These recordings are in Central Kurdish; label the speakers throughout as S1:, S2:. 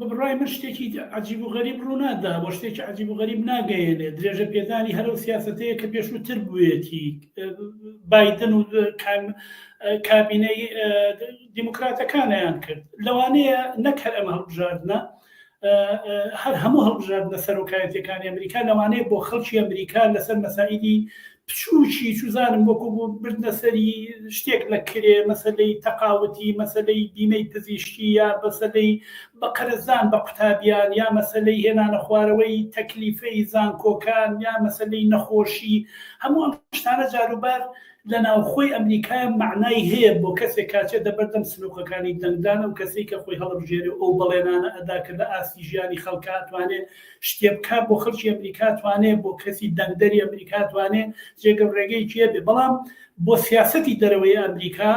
S1: بەبڕای من شتێکی عجیب و غەریب ڕوونادا بۆ شتێکی عجیب و غەریب ناگەیێنێ درێژە پێدانی هەرو سیاستەیە کە پێشووتر بوێتی بادن و کابینەی دیموکراتەکانیان کرد لەوانەیە نەک هەر ئەم هەڵبژاردنە هەر هەموو هەڵبژاردنە سەرۆکایەتەکانی ئەمریکا لەوانەیە بۆ خەڵکی ئەمریکا لەسەر مەسائیدی بچوکی چوزانم وەکو بردنە سەری شتێک لە کرێ مەسەلەی تەقاوتی مەسەلەی بیمەی پزیشکی یا مەسەلەی بە قەرزدان بە قوتابیان یا مەسەلەی هێنانە خوارەوەی تەکلیفەی زانکۆکان یا مەسەلەی نەخۆشی هەموو ئەم شتانە جاروبار لە ناوخۆی ئەمریکایە مەعنای هەیە بۆ کەسێک کە چێتە بەردەم سنوقەکانی دەنگدان ئەو کەسەی کە خۆی هەڵەبژێرێ و ئەو بەڵێنانە ئەدا کە لە ئاستی ژیانی خەڵکا ئەتوانێ شتێ بکا بۆ خەڵکی ئەمریکا توانێ بۆ کەسی دەنگدەری ئەمریکا توانێ جێگە و ڕێگەیەکی هەبێ بەڵام بۆ سیاسەتی دەرەوەی ئەمریکا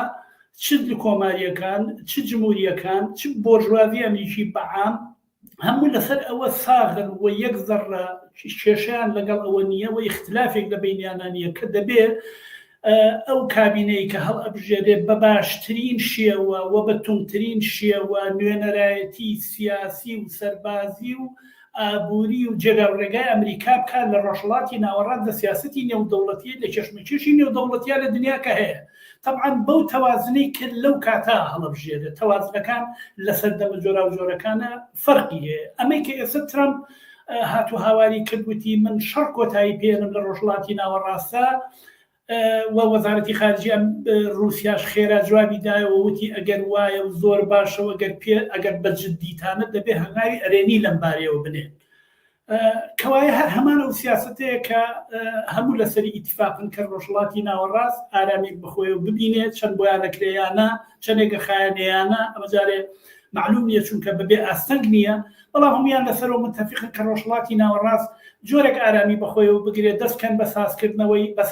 S1: چ کۆماریەکان چ جمهوریەکان چ بۆرژوازی ئەمریکی بەعام هەموو لەسەر ئەوە ساغن و یەک زەڕە کێشیان لەگەڵ ئەوە نییە و اختلافێک لە بینیانانیە کە دەبێ ئەو کابینەی کە هەڵئەبژێرێت بە باشترین شێوە و بە توندترین شێوە نوێنەرایەتی سیاسی و سەربازی و ئابووری و جێگا و ڕێگای ئەمریکا بکات لە ڕۆژهەڵاتی ناوەڕاست لە سیاسەتی نێودەوڵەتیە لە کێشمەکێشی نێودەوڵەتیا لە دنیا کە هەیە تەبعەن بەو تەوازنەی کرد لەو کاتا هەڵبژێرێت تەوازنەکان لە سەردەمە جۆراوجۆرەکانە فەرقی هەیە ئەمەی کە ئێستا ترامپ هاتو هاواری کردوتی من شەڕ کۆتایی پێێنم لە ڕۆژڵاتی ناوەڕاستە وە وەزارەتی خارجی ئەم رووسیاش خێرا جوابی دایەوە وتی ئەگەر وایە و زۆر باشەوە گەر پێ ئەگەر بە جددیتانە دەبێ هەنگاوی ئەرێنی لەم بارەیەوە بنێن کەوایە هەر هەمان ئەو سیاستەیە کە هەموو لەسەری ئیتفاقن کە ڕۆژڵاتی ناوەڕاست ئارامیک بخۆی و ببینێت چەند بۆیانەکرێیانە چەندێکە خایەنەیانە ئەمەجارێ معلوم نیە چونکە بەبێ ئاستەنگ نییە بەڵام هەموویان لەسەرەوە متەفیقن کە ڕۆژهەڵاتی ناوەڕاست جۆرێک ئارامی بەخۆیەوە بگرێت، دەستکەن بە سازکردنەوەی، بە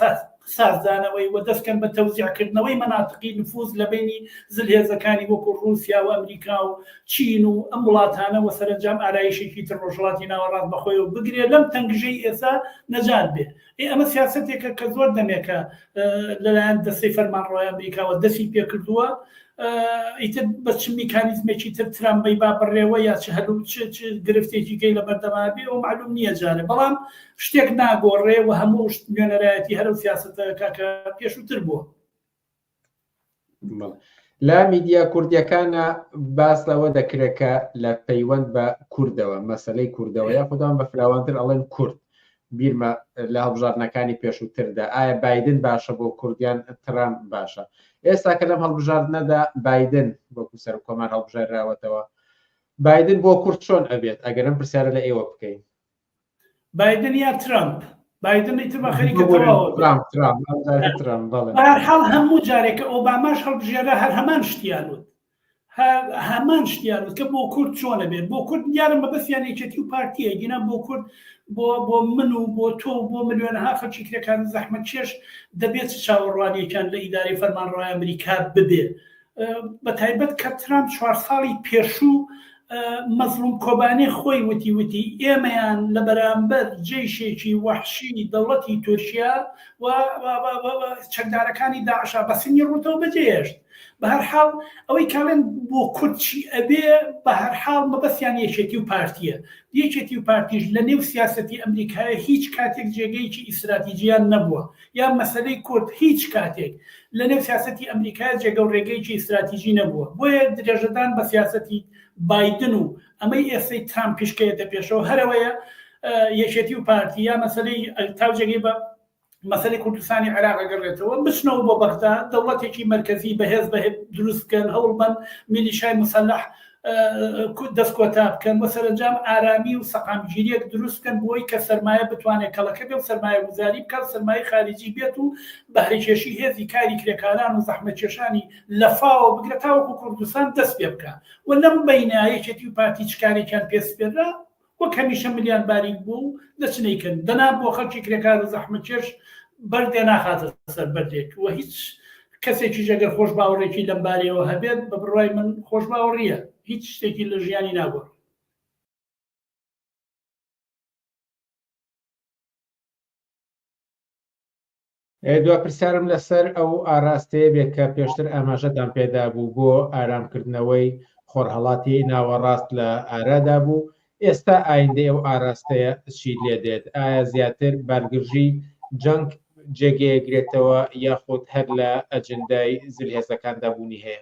S1: سازدانەوەی، و دەستکەن بە تەوزیعکردنەوەی مەناتقی نفوز لە بەینی زلهێزەکانی وەکو ڕووسیا و ئەمریکا و چین و ئەم وڵاتانە و سەرەنجام ئارایشێکی تر ڕۆژهەڵاتی ناوەڕاست بەخۆیەوە بگرێت لەم تەنگژەی ئێستا نەجات بێت. ئێ ئەمە سیاسەتێکە کە زۆر دەمێکە لەلایەن دەستەی فەرمانڕۆی ئەمریکاوە دەستی پێکردووە ئیتر بە چ میکانیزمێکی تر ترامبەی با بڕێوە یا چ هەلو گرفتێکی گەی لە بەردەما بێ و معلوم نییە جارێ بەڵام شتێک ناگۆڕێ و هەموو نوێنەرایەتی هەرو سیاستەکە کە پێشووتر بووە
S2: لە میدیا کوردیەکانە باس لەوە دەکرێت کە لە پەیوەند بە کوردەوە مەسلەی کوردەوە یا خوددان بە فراوانتر ئەڵێن کورد بیرمە لە هەڵبژاردنەکانی پێشووتردا ئایا بادن باشە بۆ کوردیان ترام باشە ئێستا کە لەم هەڵبژاردنەدا بادن وەکو سەر کۆمان هەڵبژێراوەتەوە بادن بۆ کورد چۆن ئەبێت ئەگەرم پرسیارە لە ئێوە بکەین بایدن
S1: یا ترامپ بایدن ئیتر بە خەریکە تەواوە ترامپ ترامپ ئەم جارە ترامپ بەڵێ بە هەر حاڵ هەموو جارێکە ئۆباماش هەڵبژێرا هەر هەمان شتیان وت هەر هەمان شتیان وت کە بۆ کورد چۆنە بێت بۆ کورد دیارە مەبەستیان یەکێتی و پارتیە گینا بۆ کورد بۆ بۆ من و بۆ تۆ و بۆ ملیۆنەها خەڵکی کرێکار و زەحمەتکێش دەبێت چ چاوەڕوانیەکان لە ئیدارەی فەرمانڕەوای ئەمریکا ببێت بە تایبەت کە ترامپ چوار ساڵی پێشوو مەزلوم کۆبانێ خۆی وتی وتی ئێمەیان لە بەرامبەر جێشێکی وەحشی دەوڵەتی تورکیا و چەکدارەکانی داعشا بە سنگی ڕوتەوە بەجێهێشت بە هەرحاڵ ئەوەی کاڵێن بۆ کورچی ئەبێ بە هەرحاڵ مەبەستیان یەکێتی و پارتیە یەکێتی و پارتیش لە نێو سیاستی ئەمریکایە هیچ کاتێک جێگەیەکی ئیسراتیجیان نەبووە یان مەسەلەی کورد هیچ کاتێک لە نێو سیاسەتی ئەمریکایە جێگەو رێگەیەکی ستراتیجی نەبووە، بۆیە درێژەدان بە سیاسەتی بایدن و ئەمەی ئێستەی ترامپیش کە یەتە پێشەوە هەرەوەیە یەکێتی و پارتی یا مەسەلەی تا جێگەی بە مەسەلەی کوردستانی عێراق ئەگەڕێتەوە بچنەوە بۆ بەغدا دەوڵەتێکی مەرکەزی بەهێز بە دروست بکەن هەوڵبەن میلیشای مسلح دەست کۆتا بکەن و سەرەنجام ئارامی و سەقامگیریەک دروست بکەن بۆی کە سەرمایە بتوانێت کەڵەکە بێ و سەرمایە گوزاری بکات سەرمایە خارجی بێت و بەهرەکێشی هێزی کاری کرێکاران و زەحمەکێشانی لەفاوە بگرە تاوەکو کوردستان دەست پێ بکە و لەم بینایەکێتی و پارتی چکارێکیان پێسپێررا وەک هەمیشە ملیان باریک بووە و دەچن ئەیکەن، دەنا بۆ خەڵکی کرێکار و زەحمەتکێش بەردێ ناخاتە سەر بەردێک و هیچ کەسێکیش ئەگەر خۆشباوەڕێکی لەم بارەیەوە هەبێت، بە بڕوای من خۆشباوەڕییە هیچ شتێکی لە ژیانی ناگۆڕێت.
S2: ئێ دوا پرسیارم لەسەر ئەو ئاراستەیە بێ کە پێشتر ئاماژەتان پێدا بوو بۆ ئارام کردنەوەی خۆڕهەڵاتی ناوەڕاست لە ئارادا بوو، ئێستا ئایندەی ئەو ئاراستەیە چی لێ دێت؟ ئایا زیاتر بارگرژی جەنگ جێگەیەگرێتەوە یاخود هەر لە ئەجندای زلهێزەکاندا بوونی هەیە؟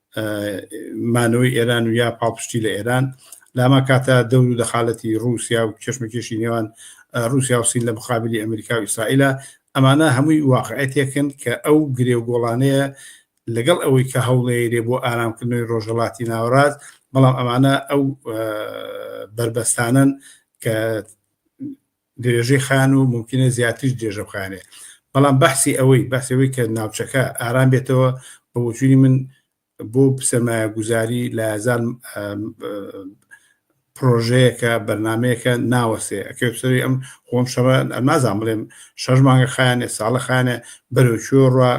S3: مانەوەی ئێران و یا پاڵپشتی لە ئێران لاما کاتە دەور و دەخالەتی رووسیا و کێشمەکێشی نێوان رووسیا و سین لە مخابلی ئەمریکا و ئیسرائیلە ئەمانە هەمووی واقعەتێکن کە ئەو گرێ و گۆڵانەیە لەگەڵ ئەوەی کە هەوڵێرێ بۆ ئارامکردنەوەی ڕۆژەڵاتی ناوەڕاست بەڵام ئەمانە ئەو بەربەستانن کە درێژەی خان و مومکینە زیاتریش درێژە بخایەنێ بەڵام بەحسی ئەوەی بەحسی ئەوەی کە ناوچەکە ئارام بێتەوە بە وجوودی من بۆ سەرمایە گوزاری لە هزار پرۆژەیەکە بەرنمەیەەکە ناوەسێ ئەکە سەری ئەم خۆم شەڕ نازان بڵێم شەش مانگە خانێ ساڵە خانە بەرەوچۆ ڕە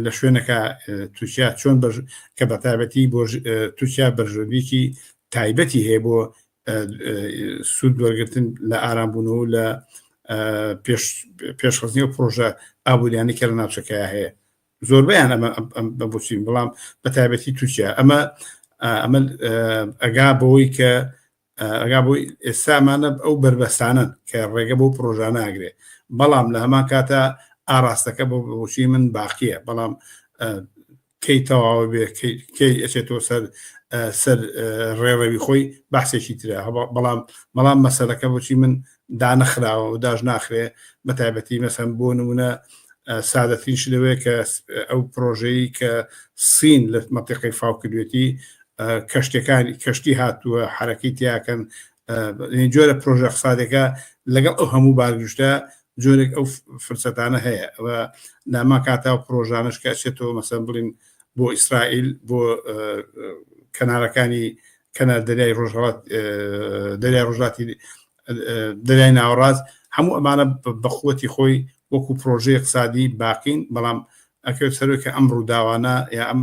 S3: لە شوێنەکە تووشیا چۆن کە بەتابەتی بۆ تووشیا بەرژۆبیکی تایبەتی هەیە بۆ سوود وەرگتن لە ئارامبوونەوە لە پێشخستنی پرۆژە ئابووریانی کە لە ناوچەکە هەیە زۆربیان ئەمە بە بچین بەڵام بە تایبەتی تورکیا ئەمە ئەمە ئەگا بەوەی کە ئەگا بۆی ئێسامانە ئەو بربەستانن کە ڕێگە بۆ پرۆژە ناگرێ بەڵام لە هەمان کاتە ئاراستەکە بۆ بۆچی من باقیە بەڵام کەی تەواوە بێ کەی ئەچێتەوە سەر سەر ڕێڕەوی خۆی باسێکی ترە بەڵام بەڵام مەسەلەکە بچی من دانەخراوە و داش ناخرێ بە تایبەتی مەسەم بۆ نمونە سادەترین شدەوەیە کە ئەو پرۆژەی کە سین لە مەتەقی فاو کردوێتی کەشتەکانی کەشتی هاتووە حرەکەی تیاکەن جۆرە پرۆژە قسادەکە لەگەڵ ئەو هەموو بارگشتە جۆرێک ئەو فرسەتانە هەیە و ناما کاتا و پرۆژانش کە ئەچێتەوە مەسەن بڵین بۆ ئیسرائیل بۆ کەنارەکانی کەنار دەریای ڕۆژهڵات دەریای ڕۆژاتی دەریای ناوەڕاست هەموو ئەمانە بەخوەتی خۆی وەکو پرۆژەیە قسادی باقین بەڵام ئەکرێت سەرۆکە ئەم ڕووداوانە یا ئەم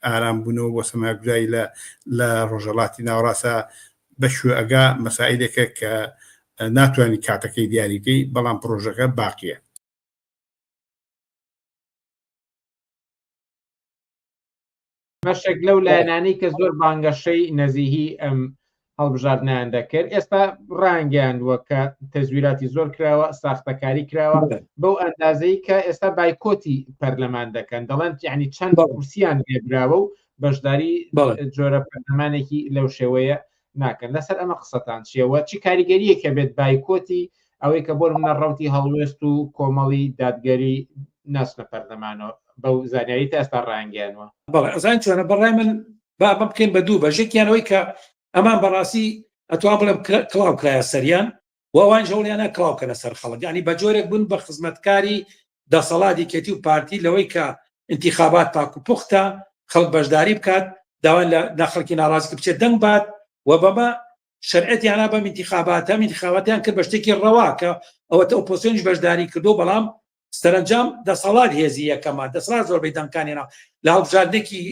S3: ئارام بوونەوە بۆ سەماگرایی لە لە ڕۆژەڵاتی ناوڕاستە بەشوێ ئەگا مەسائیلێکە کە ناتوانین کاتەکەی دیاریکەی بەڵام پرۆژەکە باقیە.
S2: بەشێک لەو لایەنانەی کە زۆر بانگەشەی نەزیهی ئەم هەڵبژاردنیان دەکرد ئێستا ڕانگەیاندووە کە تەزویراتی زۆر کراوە ساختەکاری کراوە بەو ئەندازەی کە ئێستا بایکۆتی پەرلەمان دەکەن دەڵێن یعنی چەند بە کورسیان لێبراوە و بەشداری جۆرە پەرلەمانێکی لەو شێوەیە ناکەن لەسەر ئەمە قسەتان چیەوە چی کاریگەریەکە بێت بایکۆتی ئەوەی کە بۆ منە ڕوتی هەڵوێست و کۆمەڵی دادگەری ناسنە پەرلەمانەوە بەو زانیاری تا ئێستا ڕانگەیانوە بەڵێ ئەزان چۆنە
S4: بەڕای من با بە بکەین بە دوو بەژێکیانەوەی کە ئەمان بەڕاستی ئەتوان بڵێم کڵاو کرایە سەریان و ئەوانیش هەوڵیانە کڵاو بکەنە سەر خەڵک یانی بە جۆرێک بوون بە خزمەتکاری دەسەڵات یەکێتی و پارتی لەوەی کە انتخابات پاک و پوختە خەڵک بەشداری بکات داوای لە ناخەڵکی ناڕازی کە بچێت دەنگ بات و بەمە شەرعەتیانە بەم انتخاباتە انتخاباتیان کرد بە شتێکی ڕەوا کە ئەوەتە ئۆپۆسیۆنیش بەشداری کردو بەڵام سەرنجام دەسەڵات هێزی یەکەمە دەسەڵات زۆربەی دەنگکانینا لە هەڵبژاردنێکی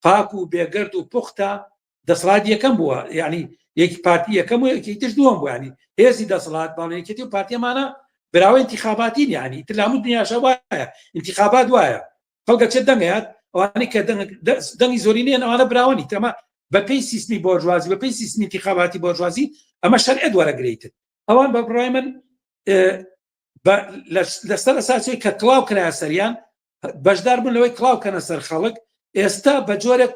S4: پاک و بێگرد و پوختە دەسڵات یەکەم بووە یعنی یەکی پارتی یەکەم و یەکی تر دووەم بووانی هێزی دەسڵات باڵێکێتی و پارتیمانە براوە انتخاباتی یعنی تر لە هەموو دنیاشە وایە انتخابات وایە خەڵگە چێت دەنگەیات ئەوانی کە دەنگی زۆری نیە ئەوانە براوەنی تەمە بەپی سیستمی بۆرژوازی بەپی سیستمی انتخاباتی بۆرژوازی ئەمە شەرعت وەرەگریتن ئەوان بە بڕای من لەسەر ئەساسی کە کلااو کرا سەریان بەشدار بوون لەوەی کلااو کەنە سەر خەڵک ئێستا بە جۆرێک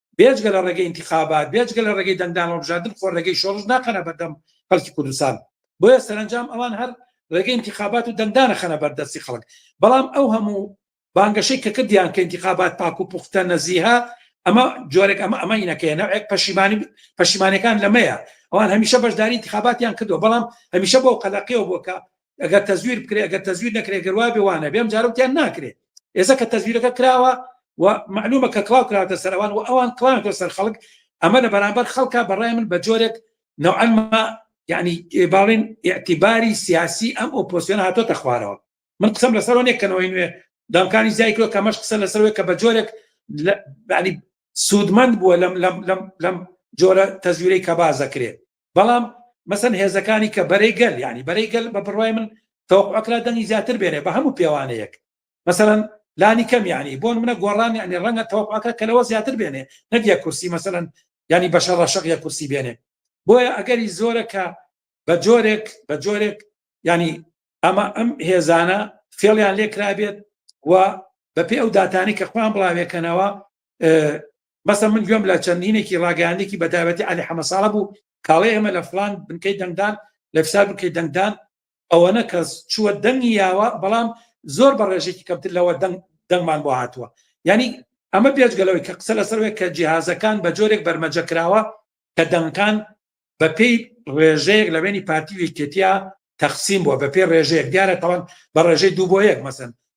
S4: بێجگە لە ڕێگەی انتخابات بێجگە لە ڕێگەی دەنگدان هەڵبژاردن خۆ ڕێگەی شۆڕش ناخەنە بەردەم خەڵکی کوردستان بۆیە سەرنجام ئەوان هەر ڕێگەی انتخابات و دەنگدانە خەنە بەردەستی خەڵک بەڵام ئەو هەموو بانگەشەی کە کردیان کە انتخابات پاک و پوختە نەزیها ئەمە جۆرێک ئەمە ئەمە ئینەکەیە نەوێک پەشیمانی پەشیمانەکان لەمەیە ئەوان هەمیشە بەشداری انتخاباتیان کردو بەڵام هەمیشە بۆ قەلەقیەوە بۆکە ئەگەر تەزویر بکرێ ئەگەر تەزویر نەکرێ گەروا بێ وانە بێم جارەتیان ناکرێت ئێستا کە تەزویرەکە کراوە و معلومە کە کلااو کراوتە سەروان و ئەوان کلااوتە سەر خەڵک ئەمە لە بەرامبەر خەڵکە بەڕای من بە جۆرێک نەعلمە یعنی باڵێن اعتیباری سیاسی ئەم ئۆپۆسیۆن هاتۆتە خوارەوە من قسم لەسەر نێکەنەوەی نوێ دامکانی زیایکرۆ کەمەش قسە لەسەرەوەی کە بە جۆرێک سوودمەند بووە لەم لەم لەم لەم جۆرە تەزویرەی کە بازەکرێت بەڵام مەسن هێزەکانی کە بەرەی گەل ینی بەرەی گەل بە بڕای من تەوەقعکرا دەنگی زیاتر بێنێ بە هەموو پێوانەیەک مەسەن لانی کەم ینی بۆن منە گۆڕان ینی ڕەنگە تەوەقعکە کە لەوە زیاتر بێنێ نەگە کورسی مەسەن ینی بەشە ڕەشق یە کورسی بێنێ بۆیە ئەگەری زۆرە کە بە جۆرێک بە جۆرێک ینی ئەمە ئەم هێزانە فێڵیان لێکرابێت و بەپێ ئەو داتانی کە خۆیان بڵاوێکەنەوە بەسە من گوێم لە چەندینێکی ڕاگەاندێکی بەتابەتی علی حەمەساڵە بوو کاڵێ ئێمە لە فلان بنکەی دەنگدان لە فسار بکەی دەنگدان ئەوەنە کەس چووە دەنگی یاوە بەڵام زۆر بە ڕێژێکی کەمتر لەوە دەنگ دەنگمان بۆ هاتووە ینی ئەمە پێشگەلەوەی کە قسە لەسەر وێک کە جیهازەکان بە جۆرێک بەرمەجە کراوە کە دەنگکان بە پێی ڕێژەیەک لە بینی پارتی وکتیا تەخسیم بووە بە پێ ڕێژەیەک دیارە تاوان بە ڕێژەی دوو بۆ یەک مەسن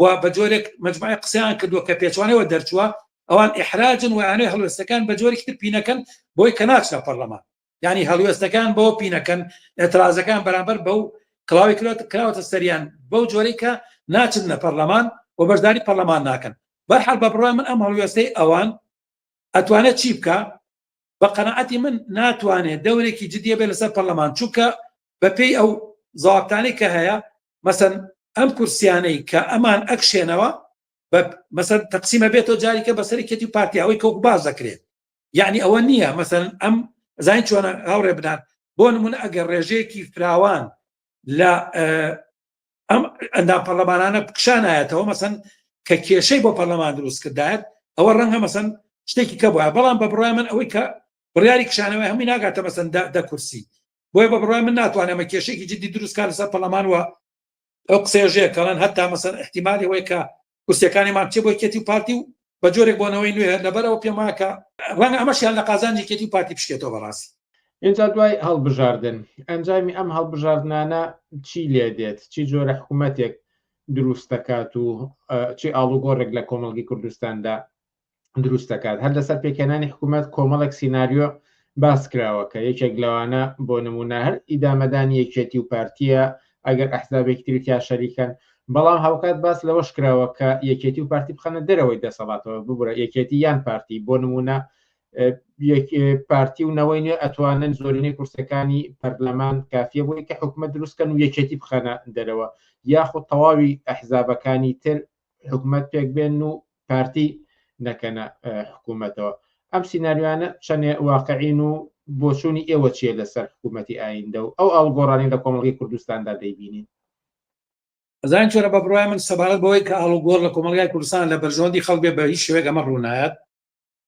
S4: و بە جۆرێک مجموعی قسەیان کردووە کە پێچوانەوە دەرچووە ئەوان ئحراجن وانەی هەڵوێستەکان بە جۆرێکی تر پینەکەن بۆی کە ناچنە پەرلەمان ینی هەڵوێستەکان بۆ پینەکەن ئەترازەکان بەرامبەر بەو کڵاوی کرات کراوەتە سەریان بەو جۆرەی کە ناچن لە پەرلەمان و بەشداری پەرلەمان ناکەن بەرحال بە بڕای من ئەم هەڵوێستەی ئەوان ئەتوانێت چی بکە بە قەنەعەتی من ناتوانێت دەورێکی جددیە بێ لەسەر پەرلەمان چووکە بەپێی ئەو زاابتانی کە هەیە مەسەن ئەم کورسیانەی کە ئەمان ئەکشێنەوە بە مەسەر تەقسیمە بێتەوە جاریکە بەسەری کەتی و پارتیاوەی کەوک باز دەکرێت یعنی ئەوە نییە مەسەن ئەم زین چۆنە هاوڕێ بدات بۆ نمونە ئەگەر ڕێژەیەکی فراوان لە ئەم ئەندا پەرلەمانانە بکشانایەتەوە مەسەن کە کێشەی بۆ پەرلەمان دروست کردایەت ئەوە ڕەنگە مەسەن شتێکی کە بە بەڵام بە بڕای من ئەوەی کە بڕیاری کشانەوەی هەمووی ناگاتە مەسەن دە کورسی بۆیە بە بڕای من ناتوانێت ئەمە کێشێکی جددی دروست کار لەسەر پەرلەمان وە ئەو قسێژەیە کەڵەن هەتا مەسەر احتیممالی ئەوەیە کە کورسەکانیمان چێ بۆی کێتی و پارتی و بە جۆرێک بۆنەوەی نوێ لەبەرەوە پێماکە ڕەنگە ئەمەشیان لە قازانجی کێتی و پارتی بشکێتەوە بەڕاستی ئینجا دوای
S2: هەڵبژاردن ئەنجامی ئەم هەڵبژاردنانە چی لێ دێت چی جۆرە حکوومەتێک دروست دەکات و چی ئاڵوگۆڕێک لە کۆمەڵگی کوردستاندا دروست دەکات هەر لەسەر پێکهێنانی حکوومەت کۆمەڵێک سینناریۆ باس کراوە کە یەکێک لەوانە بۆ نمونە هەر ئیدامەدانی یەکێتی و پارتیە ئەگەر ئەحزابێکی ترکیا شەریکەن بەڵام هاوکات باس لەوەش کراوە کە یەکێتی و پارتی بخەنە دەرەوەی دەسەڵاتەوە ببرە یەکێتی یان پارتی بۆ نمونە پارتی و نەوەی نوێ ئەتوانن زۆرینەی کورسەکانی پەرلەمان کافیە بۆی کە حکومە دروستکەن و یەکێتی بخەنە دەرەوە یاخود تەواوی ئەحزابەکانی تر حکومەت پێک بێن و پارتی نەکەنە حکوومەتەوە ئەم سینناریوانە چەندێ واقعین و بۆچوونی ئێوە چیە لەسەر حکوومەتتی ئایندە و ئەو ئاڵگۆڕانی لە کۆمەڵی کوردستاندا دەیبینین
S4: زان چۆرە بە بڕای من سەبارەت بەوەی کە ئاڵوگۆڕ لە کۆمەلگای کوردستان لە بەرژۆندی خەڵک بێ بە هیچ شوێک ئەمە ڕوونایەت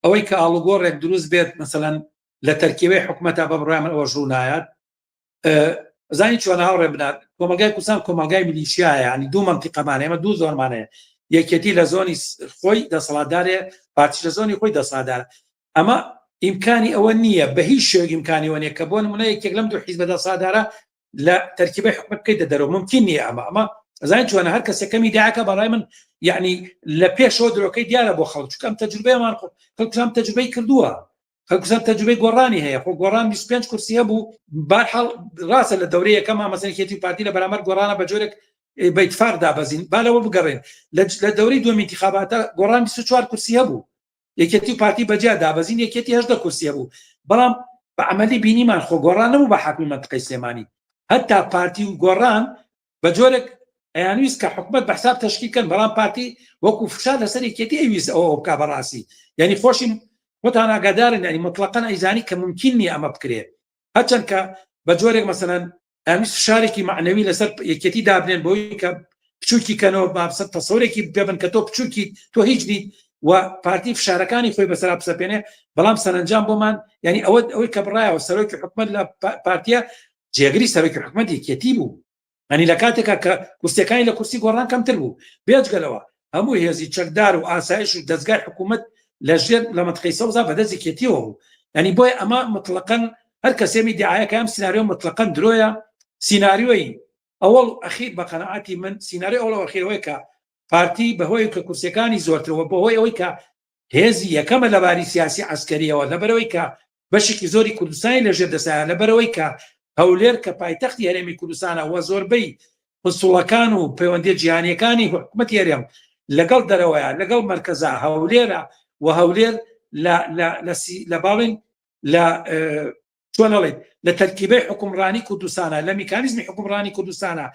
S4: ئەوەی کە ئاڵوگۆڕێک دروست بێت مثلەن لە تەرکیبەی حکوومەتە بە بڕای من ئەوە ڕوونایەت زانی چۆن هاوڕێ بنات کۆمەلگای کوردستان کۆمەلگای ملیشیایە ینی دوو منتیقەمانە ئێمە دوو زۆرمانەیە یەکێتی لە زۆنی خۆی دەسەڵاتدارێ پارتی لە زۆنی خۆی دەسادار ئەمە ئیمکانی ئەوە نییە بە هیچ شێک ئیمکانی وە نیە کە بۆن منە یەکێک لەم دوو حیزبە دەسادارە لە تەرکیبی حکومت بکەیتە دەرەوە ممکن نیە ئەمە ئەمە زانین چۆنە هەر کەسەکەمی داکە بەڵای من یعنی لە پێشەوە درۆکەی دیارە بۆ خەڵچکەم تەجروبەیەمان خۆ کەم تەجروبەی کردووە کەکوسەر تەجوبەی گۆڕانی هەیە خۆ گۆڕان 25 کورسیە بوو بارحاڵ ڕاستە لە دەورەیە کەم ئامەسەنکێتی پارتی لە بەرامەر گۆڕانە بە جۆرێک بەیتفاق دابەزین بالەوە بگەڕێن لە دەوری دوم انتخاباتە گۆڕان 24 کورسیە بوو یەکێتی و پارتی بەجیا دابەزین یەکێتی هەشدە کورسیە بوو بەڵام بە عملی بینیمان خۆ گۆڕان نەبوو بە حاکمی منتقی سلێمانی هەتا پارتی و گۆڕان بە جۆرێک ئەیانویست کە حکومت بە حساب تشکیکەن بەڵام پارتی وەکو فشار لەسەر یەکێتی ئەویست ئەوە بکە بەڕاستی یعنی خۆشی خۆتان ئاگادارن ینی مطلقەن ئەیزانی کە ممکن نیە ئەمە بکرێت هەچەند کە بە جۆرێک مەسەەن ئەوی فشارێکی معنەوی لەسەر یەکێتی دابنێن بۆی کە بچووکی کەنەوە بابسە تەسەورێکی پێبن کە تۆ بچووکی تۆ هیچ نیت و پارتی فشارەکانی خۆی بەسرا بسەپێنێ بەڵام سەرنجام بۆمان ینی ئەوە ئەوەی کە بڕایەوە سەرۆکی حکومت لە پارتیە جێگری سەرۆکی حکومەتی یەکێتی بوو ئەنی لە کاتێکا کە کورسەکانی لە کورسی گۆڕان کەمتر بوو بێجگەلەوە هەموو هێزی چەکدار و ئاسایش و دەستگای حکوومەت لە ژێر لە مەتقی سەوزا بەدەستی کێتیەوە بوو ئەنی بۆی ئەمە مطلقەن هەر کەسێمی دیعاەکە ئەم سناریۆ مطلقەن درۆیە سینناریۆی ئەوەڵ ئەخیر بە قەنەعاتی من سینناریۆ ئەوڵەوەخیرەوەی کە پارتی بەهۆی کە کورسەکانی زۆرترەوە بەهۆی ئەوەی کە هێزی یەکەمە لە باری سیاسی عسکەریەوە لەبەرەوەی کە بەشێکی زۆری کوردستانی لە ژێر دەسایە لەبەرەوەی کە هەولێر کە پایتەختی هەرێمی کوردستانە وە زۆربەی پسوڵەکان و پەیوەندی جیهانیەکانی حکومت هەرێم لەگەڵ دەرەوەیە لەگەڵ مرکزە هەولێرە و هەولێر لە باڵین لە چۆنەڵێت لە تەرکیبەی حکومڕانی کوردستانە لە میکانیزمی حکومڕانی کوردستانە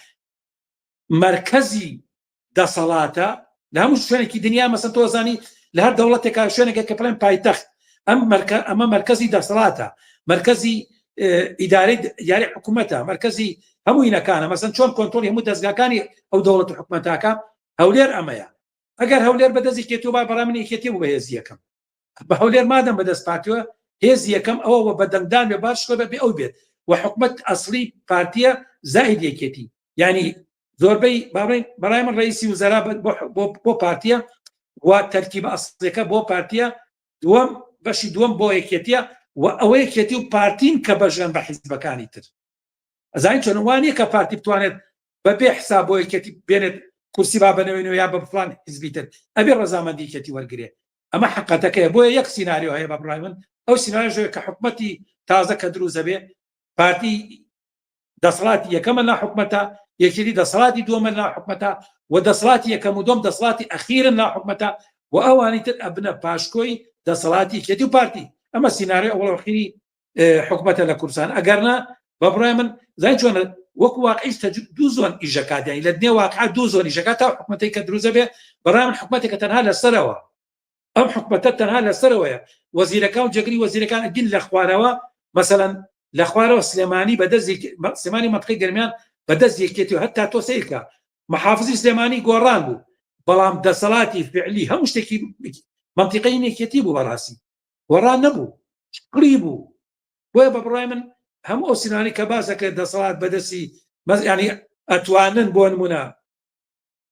S4: مرکزی دەسەڵاتە لە هەموو شوێنێکی دنیا مەسن تۆزانی لە هەر دەوڵەتێکا شوێنێکە کە پڵێن پایتەخت ئەم مەرکە ئەمە مرکزی دەسەڵاتە مرکزی ئیداری یاری حکوومەتە مرکزی هەموو هینەکانە مەسن چۆن کۆنتۆلی هەموو دەستگاکانی ئەو دەوڵەت حکوومەتاکە هەولێر ئەمەیە ئەگەر هەولێر بەدەستی کێتو با بەڵام من یەکێتی بوو بەهێزی یەکەم بە هەولێر مادەم بەدەست پاتوە هێزی یەکەم ئەوە وە بەدەنگدان بێ باشکە بە بێ ئەو بێت و حکومت ئەسلی پارتیە زائید یەکێتی ینی زۆربەی باڵین بەڵای من ڕیسی وزرا بۆ پارتیە و تەرکی بە ئەسلەکە بۆ پارتیە دووەم بەشی دووەم بۆ یەکێتیە و ئەوە یەکێتی و پارتین کە بەژێن بە حیزبەکانی تر ئەزای چۆنوانە کە پارتی بتوانێت بەبێ حساب بۆ یەکێتی بێنێت کورسی با بنەوەین و یا بە فلان حزبیتر ئەبێ ڕزامەندی کەتی وەرگێ ئەمە حقەتەکەی بۆیە یەک سینناریۆ هەیە بە بڕای من ئەو سینناژێ کە حکومەتی تازە کە دروزەبێ پارتی دەسەڵاتی یەکەمە لا حکومەتە یەکێتی دەسەڵاتی دووەمە لا حکومەتە و دەسەڵاتی یەکەم و دۆم دەسەڵاتی ئەخیرن لا حکومەتە و ئەوانی تر ئەبنە پاشکۆی دەسەڵاتی کێتی و پارتی ئەمە سینناێ ئەوڵخیری حکومەتە لە کوردستان ئەگەرنا بە بڕای من زای چۆن وەک واقعیش دوو زۆن ئیژەکاتیانی لە دنێ واقع دوو زۆنی ژەکە تا حکومەتی کە دروزە بێ بەڕام حکومەتێکە تەنها لەسەرەوە ئەم حکومەتە تەنها لەسەرەوەیە وەزیرەکە و جەگری وەزیرەکان ئەگین لە خوارەوە مەسەەن لە خوارەوە سلێمانی بە دەست سلێمانی منطقی گەرمیان بە دەست یەکێتی و هەتا تۆ سیرکە محافزی سلێمانی گۆڕان بوو بەڵام دەسەڵاتی فعلی هەموو شتێکی منطقی نێکێتی بوو بەڕاستی گۆڕان نەبوو شکڵی بوو بۆیە بە بڕای من هەموو ئەو سینانی کە باسەکە دەسەڵات بەدەستی مەزیانی ئەتوانن بۆ نمونە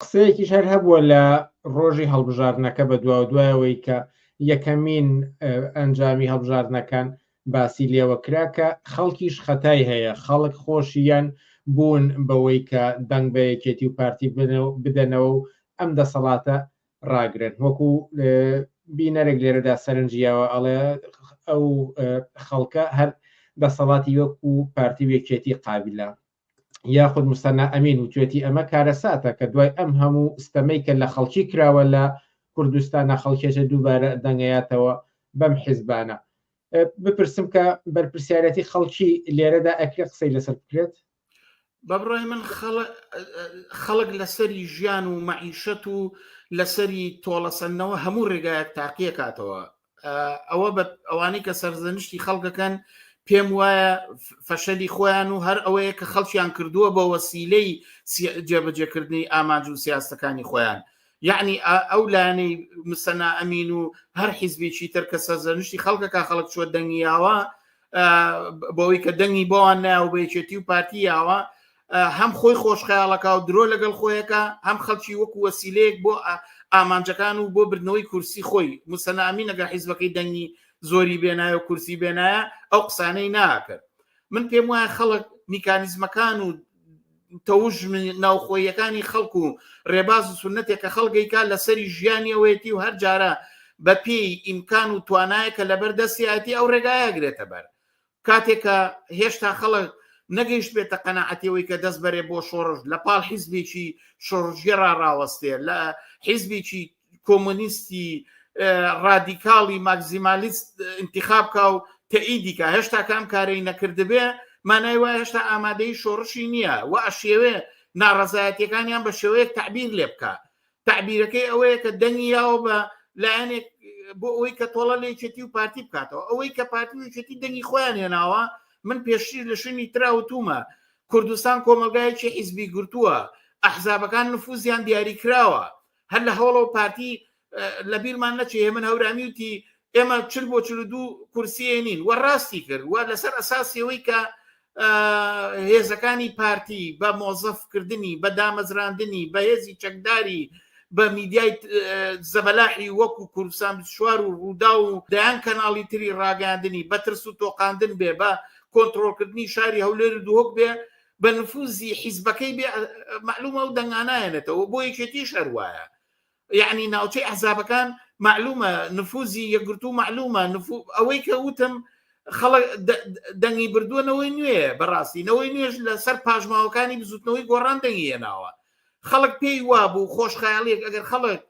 S2: قسەیەکیش هەر هەبووە لە ڕۆژی هەڵبژاردنەکە بە دواو دوایەوەی کە یەکەمین ئەنجامی هەڵبژاردنەکان باسی لێوە کرا کە خەڵکیش خەتای هەیە خەڵک خۆشیان بوون بەوەی کە دەنگ بە یەکێتی و پارتی بدەنەوە و ئەم دەسەڵاتە ڕاگرن وەکو بینەرێک لێرەدا سەرنجیاوە ئەڵێ ئەو خەڵکە هەر دەسەڵاتی وەکو پارتی وێکێتی قابلە یاخود مستەنا ئەمین وتوێتی ئەمە کارەساتە کە دوای ئەم هەموو ستەمەی کە لە خەڵکی کراوە لە کوردستانە خەڵکێکە دووبارە دەنگەیاتەوە بەم حیزبانە بپرسم کە بەرپرسیارەتی خەڵکی لێرەدا ئەکرێ قسەی لەسەر بکرێت بەبڕای
S5: من خەڵک لەسەری ژیان و مەعیشەت و لەسەری تۆڵەسەندنەوە هەموو ڕێگایەک تاقیەکاتەوە ئەوە بە ئەوانەی کە سەرزەنشتی خەڵکەکەن پێم وایە فەشەلی خۆیان و هەر ئەوەیە کە خەڵکیان کردووە بە وەسیلەی جێبەجێکردنی ئامانج و سیاستەکانی خۆیان یعنی ئەو لایەنەی مسەنا ئەمین و هەر حیزبێکی تر کە سەرزەنشتی خەڵکەکە خەڵک چوە دەنگیاوە بۆەوەی کە دەنگی بۆوان ناو بەیچێتی و پارتی یاوە هەم خۆی خۆشخەیاڵەکە و درۆ لەگەڵ خۆیەکە هەم خەڵکی وەکو وەسیلەیەک بۆ ئامانجەکان و بۆ بردنەوەی کورسی خۆی مسەنامی نەگە حیزبەکەی دەنگی زۆری بێنایە و کورسی بێنایە ئەو قسانەی ناکرد من پێم وایە خەڵک میکانیزمەکان و تەوژ ناوخۆیەکانی خەڵک و ڕێباز و سنتێک کە خەڵگەیکا لەسەری ژیانی ئەوەیەتی و هەر جارە بەپی ئیمکان و توانایە کە لەبەر دەستیاتی ئەو ڕێگایە گرێتە بەر کاتێک کە هێشتا خەڵک نەگەیشتبێتە قەنەعەتی ئەوەی کە دەست بەرێ بۆ شۆڕش لە پاڵ حیزبێکی شۆڕژگێڕا ڕاوەستێ لە حیزبێکی کۆمۆنیستی ڕادیکاڵی ماکزیمالیست انتخاب کا و تەئیدیکە هێشتا کام کارەی نەکردبێ مانای وای هێشتا ئامادەی شۆڕشی نییە و ئەشێوێ ناڕەزایەتەکانیان بە شێوەیەک تعبیر لێ بکە تعبیرەکەی ئەوەیە کە دەنگی یاوە بە لایەنێک بۆ ئەوەی کە تۆڵە لە یەکێتی و پارتی بکاتەوە ئەوەی کە پارتی وچێتی دەنگی خۆیان هێناوە من پێشتر لە شوێنی تراوتومە کوردستان کۆمەلگایکی حیزبی گرتووە ئەحزابەکان نفوزیان دیاری کراوە هەر لە هەوڵەوە پارتی لە بیرمان نەچێ من هەورامی وتی ئێمە چل بۆ چل دوو کورسیە نین وە ڕاستی کرد وە لەسەر ئەساسیەوەی کە هێزەکانی پارتی بە مۆزەفکردنی بە دامەزراندنی بە هێزی چەکداری بە میدیای زەبەلاحی وەکو کوردستان شوار و ڕوودا و دەیان کەناڵی تری ڕاگەاندنی بە ترس و تۆقااندن بێ بە کۆنتترۆلکردنی شاری هەولێر و دوهۆک بێ بە نفوزی حیزبەکەی بێ معلومە و دەنگانایەنێتەوە بۆ یەکێتی شەروایە یەعنی ناوچەی ئەحزابەکان مەعلومە نفوزی یەکگرتوو مەعلومە ئەوەی کە وتم خەڵک دەنگی بردووە نەوەی نوێ بەڕاستی نەوەی نوێژ لەسەر پاشماوەکانی بزوتنەوەی گۆڕان دەنگی هێناوە خەڵک پێی وابوو خۆشخەیاڵیەک ئەگەر خەڵک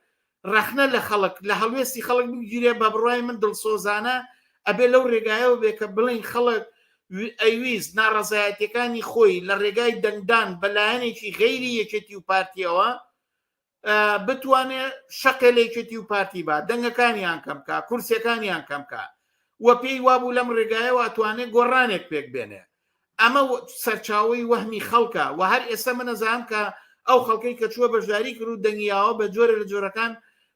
S5: ڕەخنە لە خەڵک لە هەڵوێستی خەڵک بگیرێ بە بڕای من دڵسۆزانە ئەبێ لەو ڕێگایەوە بێ کە بڵین خەڵک ئەویست ناڕەزایەتەکانی خۆی لە ڕێگای دەنگدان بەلایەنێکی غەیری یەکێتی و پارتیەوە بتوانێ شەقێ لە یەکێتی و پارتی با دەنگەکانیان کەم کا کورسەکانیان کەم کا و پێی وابوو لەم ڕێگایەوە توانێت گۆڕانێک پێک بێنێ ئەمە سەرچاوی وەهمی خەڵکە و هەر ئێستا منەزانام کە ئەو خەڵکەی کە چووە بەشداری کرد و دەنگیاوە بە جۆرە لە جۆرەکان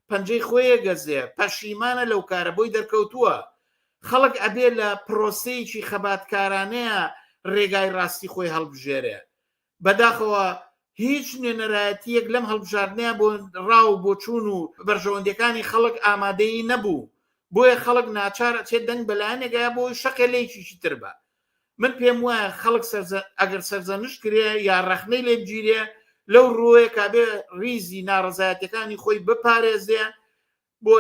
S5: پەنجەی خۆیە گەزێ پەشیمانە لەو کارە بۆی دەرکەوتووە خەڵک ئەبێ لە پرۆسەیەکی خەباتکارانەیە ڕێگای ڕاستی خۆی هەڵبژێرێ بەداخەوە هیچ نوێنەرایەتییەک لەم هەڵبژاردنەیا بۆ ڕا و بۆچوون و بەرژەوەندیەکانی خەڵک ئامادەی نەبوو، بۆیە خەڵک ناچار ئەچێت دەنگ بە لایەنێک ئەیا بۆی شەقێ لەیەکیکی تر بە من پێم وایە خەڵک ئەگەر سەرزەنشت کرێ یا ڕەخنەی لێ بگیرێ لەو ڕووەیە کابێ ڕیزی ناڕەزایەتەکانی خۆی بپارێزێ بۆ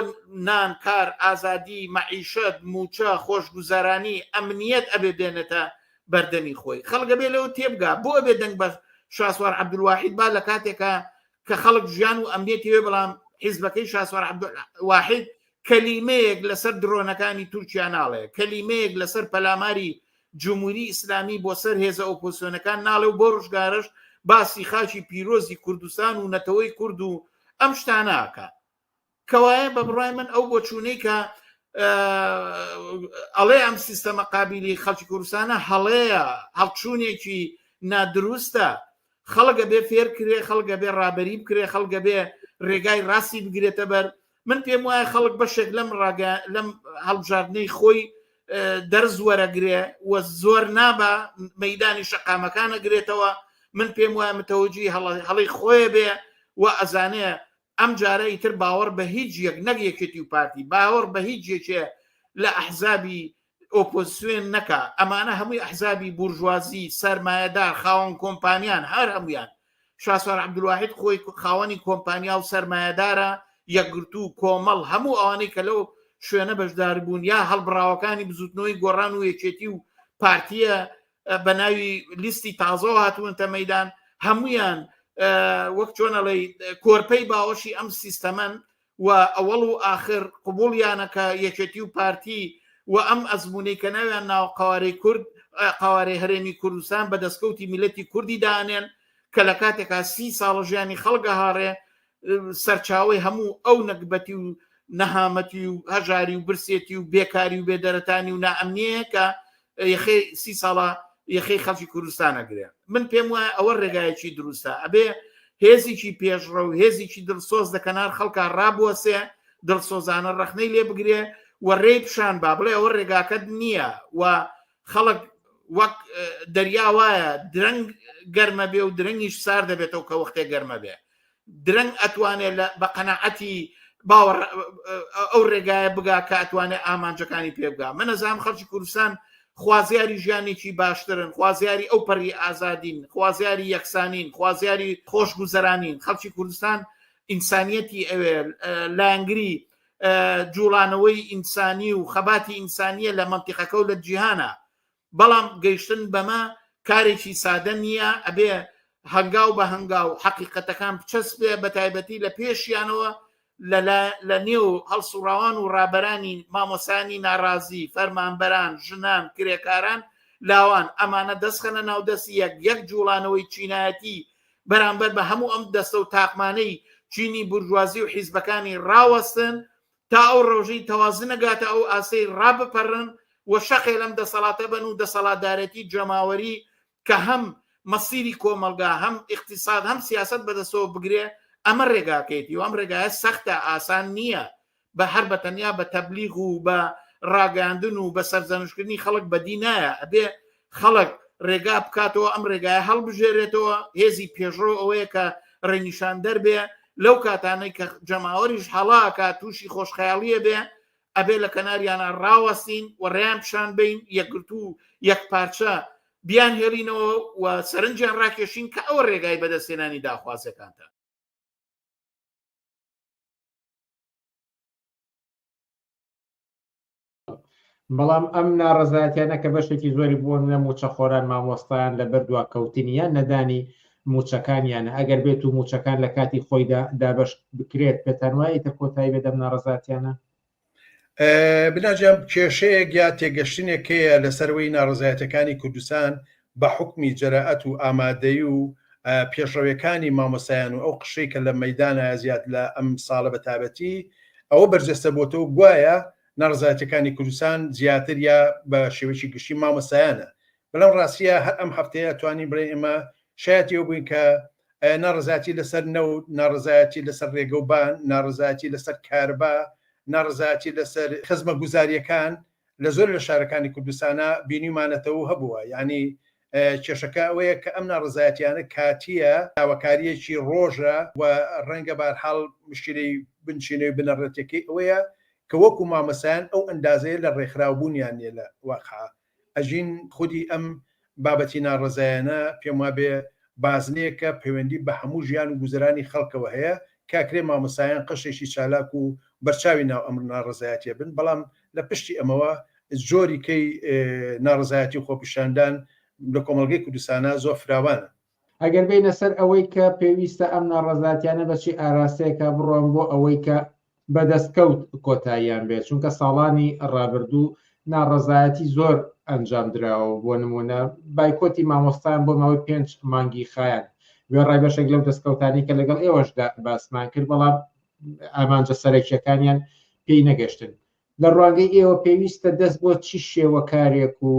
S5: نان، کار، ئازادی، مەعیشەت، مووچە، خۆشگوزەرانی، ئەمنیەت ئەبێ بێنێتە بەردەمی خۆی. خەڵک ئەبێ لەوە تێبگا بۆ ئەبێ دەنگ بە شاسوار عەبدولواحید با لە کاتێکا کە خەڵک ژیان و ئەمنیەتی هەیە بەڵام حیزبەکەی شاسوار عەبدولواحید کەلیمەیەک لەسەر درۆنەکانی تورکیا ناڵێ، کەلیمەیەک لەسەر پەلاماری جموری ئیسلامی بۆ سەر هێزە ئۆپۆسیۆنەکان ناڵێ و بۆ ڕژگارەش باسی خاکی پیرۆزی کوردستان و نەتەوەی کورد و ئەم شتانە ئەکا. کەوایە بە بڕای من ئەو بۆچوونەی کە ئەڵێ ئەم سیستەمە قابلی خەڵکی کوردستانە هەڵەیە هەڵچوونێکی نادروستە خەڵگە بێ فێر کرێ خەڵگە بێ ڕابری بکرێ خەڵگە بێ ڕێگای ڕاستی بگرێتە بەر من پێم وایە خەڵک بەشێک لەم ڕاگە لەم هەڵبژاردنەی خۆی دەرز وەرەگرێ و زۆر نابە مەدانی شەقامەکانە گرێتەوە من پێم وایە متەوەجی هەڵی خۆیە بێ و ئەزانێ ئەمجارە ئیتر باوەڕ بە هیچ یەک نەک یەکێتی و پارتی باوەڕ بە هیچ یەکێ لە ئەحزابی ئۆپۆزسیۆن نەکا ئەمانە هەمووی ئەحزابی بورژوازی سەرمایەدار خاوەن کۆمپانیان هەر هەمویان شاسوار عبدواحد خۆی خاوەنی کۆمپانیا و سەرمایەدارە یەکگرتو و کۆمەڵ هەموو ئەوانەی کە لەو شوێنە بەشداربوون یا هەڵبراوەکانی بزوتنەوەی گۆڕان و یەکێتی و پارتیە بە ناوی لیستی تازەوە هاتوونتە مەدان هەمویان وەک چۆنەڵی کۆرپەی باوەشی ئەم سیستەمەن و ئەوەڵ و آخر قوبولیانەکە یەکێتی و پارتی و ئەم ئەزمونەی کە ناویان ناو قوارەی کورد قوارەی هەرێمی کوردستان بە دەستکەوتی میلەتی کوردی دانێن کە لە کاتێکا سی ساڵ ژیانی خەڵگە هاڕێ سەرچاوەی هەموو ئەو نەگبەتی و نەهامەتی و هەژاری و برسێتی و بێکاری و بێدەرەتانی و نائەمنیەیە کە یخی سی ساڵە یخی خەڵکی کوردستانە گرێ من پێم وایە ئەوە ڕێگایەکی دروستە ئەبێ هێزیی پێشڕە و هێزیی دڵسۆز لە کەنار خەڵکە ڕابوەسێ دڵسۆزانە ڕەخنەی لێ بگرێ و ڕێ پیشان با بڵێ ئەوە ڕێگاکەت نییە و خەڵک وەک دەریا وایە درەنگ گەرمە بێ و درەنگیش سار دەبێتەوە کە وەختێ گەرمە بێ درەنگ ئەتوانێت لە بە قەنەعەتی باوەڕ ئەو ڕێگایە بگا کە ئەتوانێت ئامانجەکانی پێ بگا من نەزانام خەڵکی کوردستان خوازیاری ژیانێکی باشترن خوازیاری ئەو پەری ئازادین خوازیاری یەکسانین خوازیاری خۆشگوزەرانین خەڵکی کوردستان ئینسانیەتی ئەوێ لایەنگری جوڵانەوەی ئینسانی و خەباتی ئینسانیە لە مەنتیقەکە و لە جیهانە بەڵام گەیشتن بەمە کارێکی سادە نییە ئەبێ هەنگاو بە هەنگاو حەقیقەتەکان بچەسپێ بە تایبەتی لە پێشیانەوە لە نێو هەڵسوڕاوان و ڕابەرانی مامۆسانی ناڕازی فەرمانبەران ژنان کرێکاران لاوان ئەمانە دەستخەنە ناودەستی یەک یەک جوڵانەوەی چینایەتی بەرامبەر بە هەموو ئەم دەستە و تاقمانەی چینی بورجوازی و حیزبەکانی ڕاوەستن تا ئەو ڕۆژەی تەوازن نەگاتە ئەو ئاسەی ڕابپەڕن و شەقێ لەم دەسەڵاتە بن و دەسەڵاتدارەتی جەماوەری کە هەم مەسیری کۆمەڵگا هەم ئیقتیساد هەم سیاسەت بەدەستەوە بگرێ ئەمە ڕێگاکەیەتی و ئەم ڕێگایە سەختە ئاسان نییە بە هەر بە تەنیا بە تەبلیغ و بە ڕاگەاندن و بە سەرزەنشتکردنی خەڵک بەدی نایە ئەبێ خەڵک ڕێگا بکاتەوە ئەم ڕێگایە هەڵبژێرێتەوە هێزی پێشڕۆ ئەوەیە کە ڕێنیشان دەربێ لەو کاتانەی کە جەماوەریش هەڵاکە تووشی خۆشخەیاڵیە بێ ئەبێ لە کەناریانە ڕاوەستین و ڕێیان پیشان بین یەکگرتو و یەک پارچە بیان هێڵینەوە و سەرنجیان ڕاکێشین کە ئەوە ڕێگای بەدەستێنانی داخوازەکانتە
S2: بەڵام ئەم ناڕزایەتیانە کە بەشێکی زۆری بۆ نە موچەخۆران مامۆستایان لە بەر دواکەوتنی یان نەدانی موچەکانیانە ئەگەر بێت و موچەکان لە کاتی خۆیدا دابش بکرێت پێتان وایە تە کۆتایی بێدەم ناڕزاتیانە
S6: بناجیان کێشەیە گیا تێگەشتنێکەیە لەسەروەی ناڕزایەتەکانی کوردستان بە حوکمی جەرائەت و ئامادەیی و پێشڕەوێکانی مامۆستایان و ئەو قشرەی کە لە مەیدانایە زیاد لە ئەم ساڵە بە تابەتی ئەوە بەرجەستە بۆتەوە گوایە ناڕەزایەتیەکانی کوردستان زیاتر یا بە شێوەیەکی گشتی مامۆستایانە بەلام ڕاستیە هەر ئەم هەفتەیە ئەتوانین بڵێن ئێمە شایەتی ئەوە بووین کە ناڕەزایەتی لەسەر نەوت ناڕەزایەتی لەسەر ڕێگە و بان ناڕەزایەتی لەسەر کارەبا ناڕەزایەتی لەسەر خزمە گوزاریەکان لە زۆر لە شارەکانی کوردستانا بینیومانەتەوەو هەبووە، یانی کێشەکە ئەوەیە کە ئەم ناڕەزایەتیانە کاتییە، داواکارییەکی ڕۆژە و ڕەنگە بەهەرحاڵ مشکیلەی بنچینەوی بنەڕەتیەکەی ئەوەیە کە وەکو مامۆستایان ئەو ئەندازەیە لە ڕێکخراوبوونیان نیە لە واقعا ئەژین، خودی ئەم بابەتی ناڕەزایانە پێم وابێ بازنەیەکە پەیوەندی بە هەموو ژیان و گوزەرانی خەڵکەوە هەیە، کاکرێ مامۆستایان قەشێکی چالاک و بەرچاوی ناو ئەم ناڕەزایەتیە بن، بەڵام لە پشتی ئەمەوە جۆری کەی ناڕەزایەتی و خۆپیشاندان لە کۆمەڵگەی کوردستانا زۆر فراوانە. ئەگەر بێینە
S2: سەر ئەوەی کە پێویستە ئەم ناڕەزاتیانە بە چی ئاراستەیەکە بڕۆن بۆ ئەوەی کە بە دەستکەوت کۆتاییان بێت چونکە ساڵانی ڕابردوو ناڕەزایەتی زۆر ئەنجام دراوە بۆ نمونە بایکۆتی مامۆستان بۆ ماوەی پێنج مانگی خایەن وێڕای بەشێک لەو دەستکەوتانی کە لەگەڵ ئێوەشدا باسمان کرد بەڵام ئامانجە سەرەکیەکانیان پێی نەگەشتن لە ڕوانگەی ئێوە پێویستە دەست بۆ چی شێوە کارێک و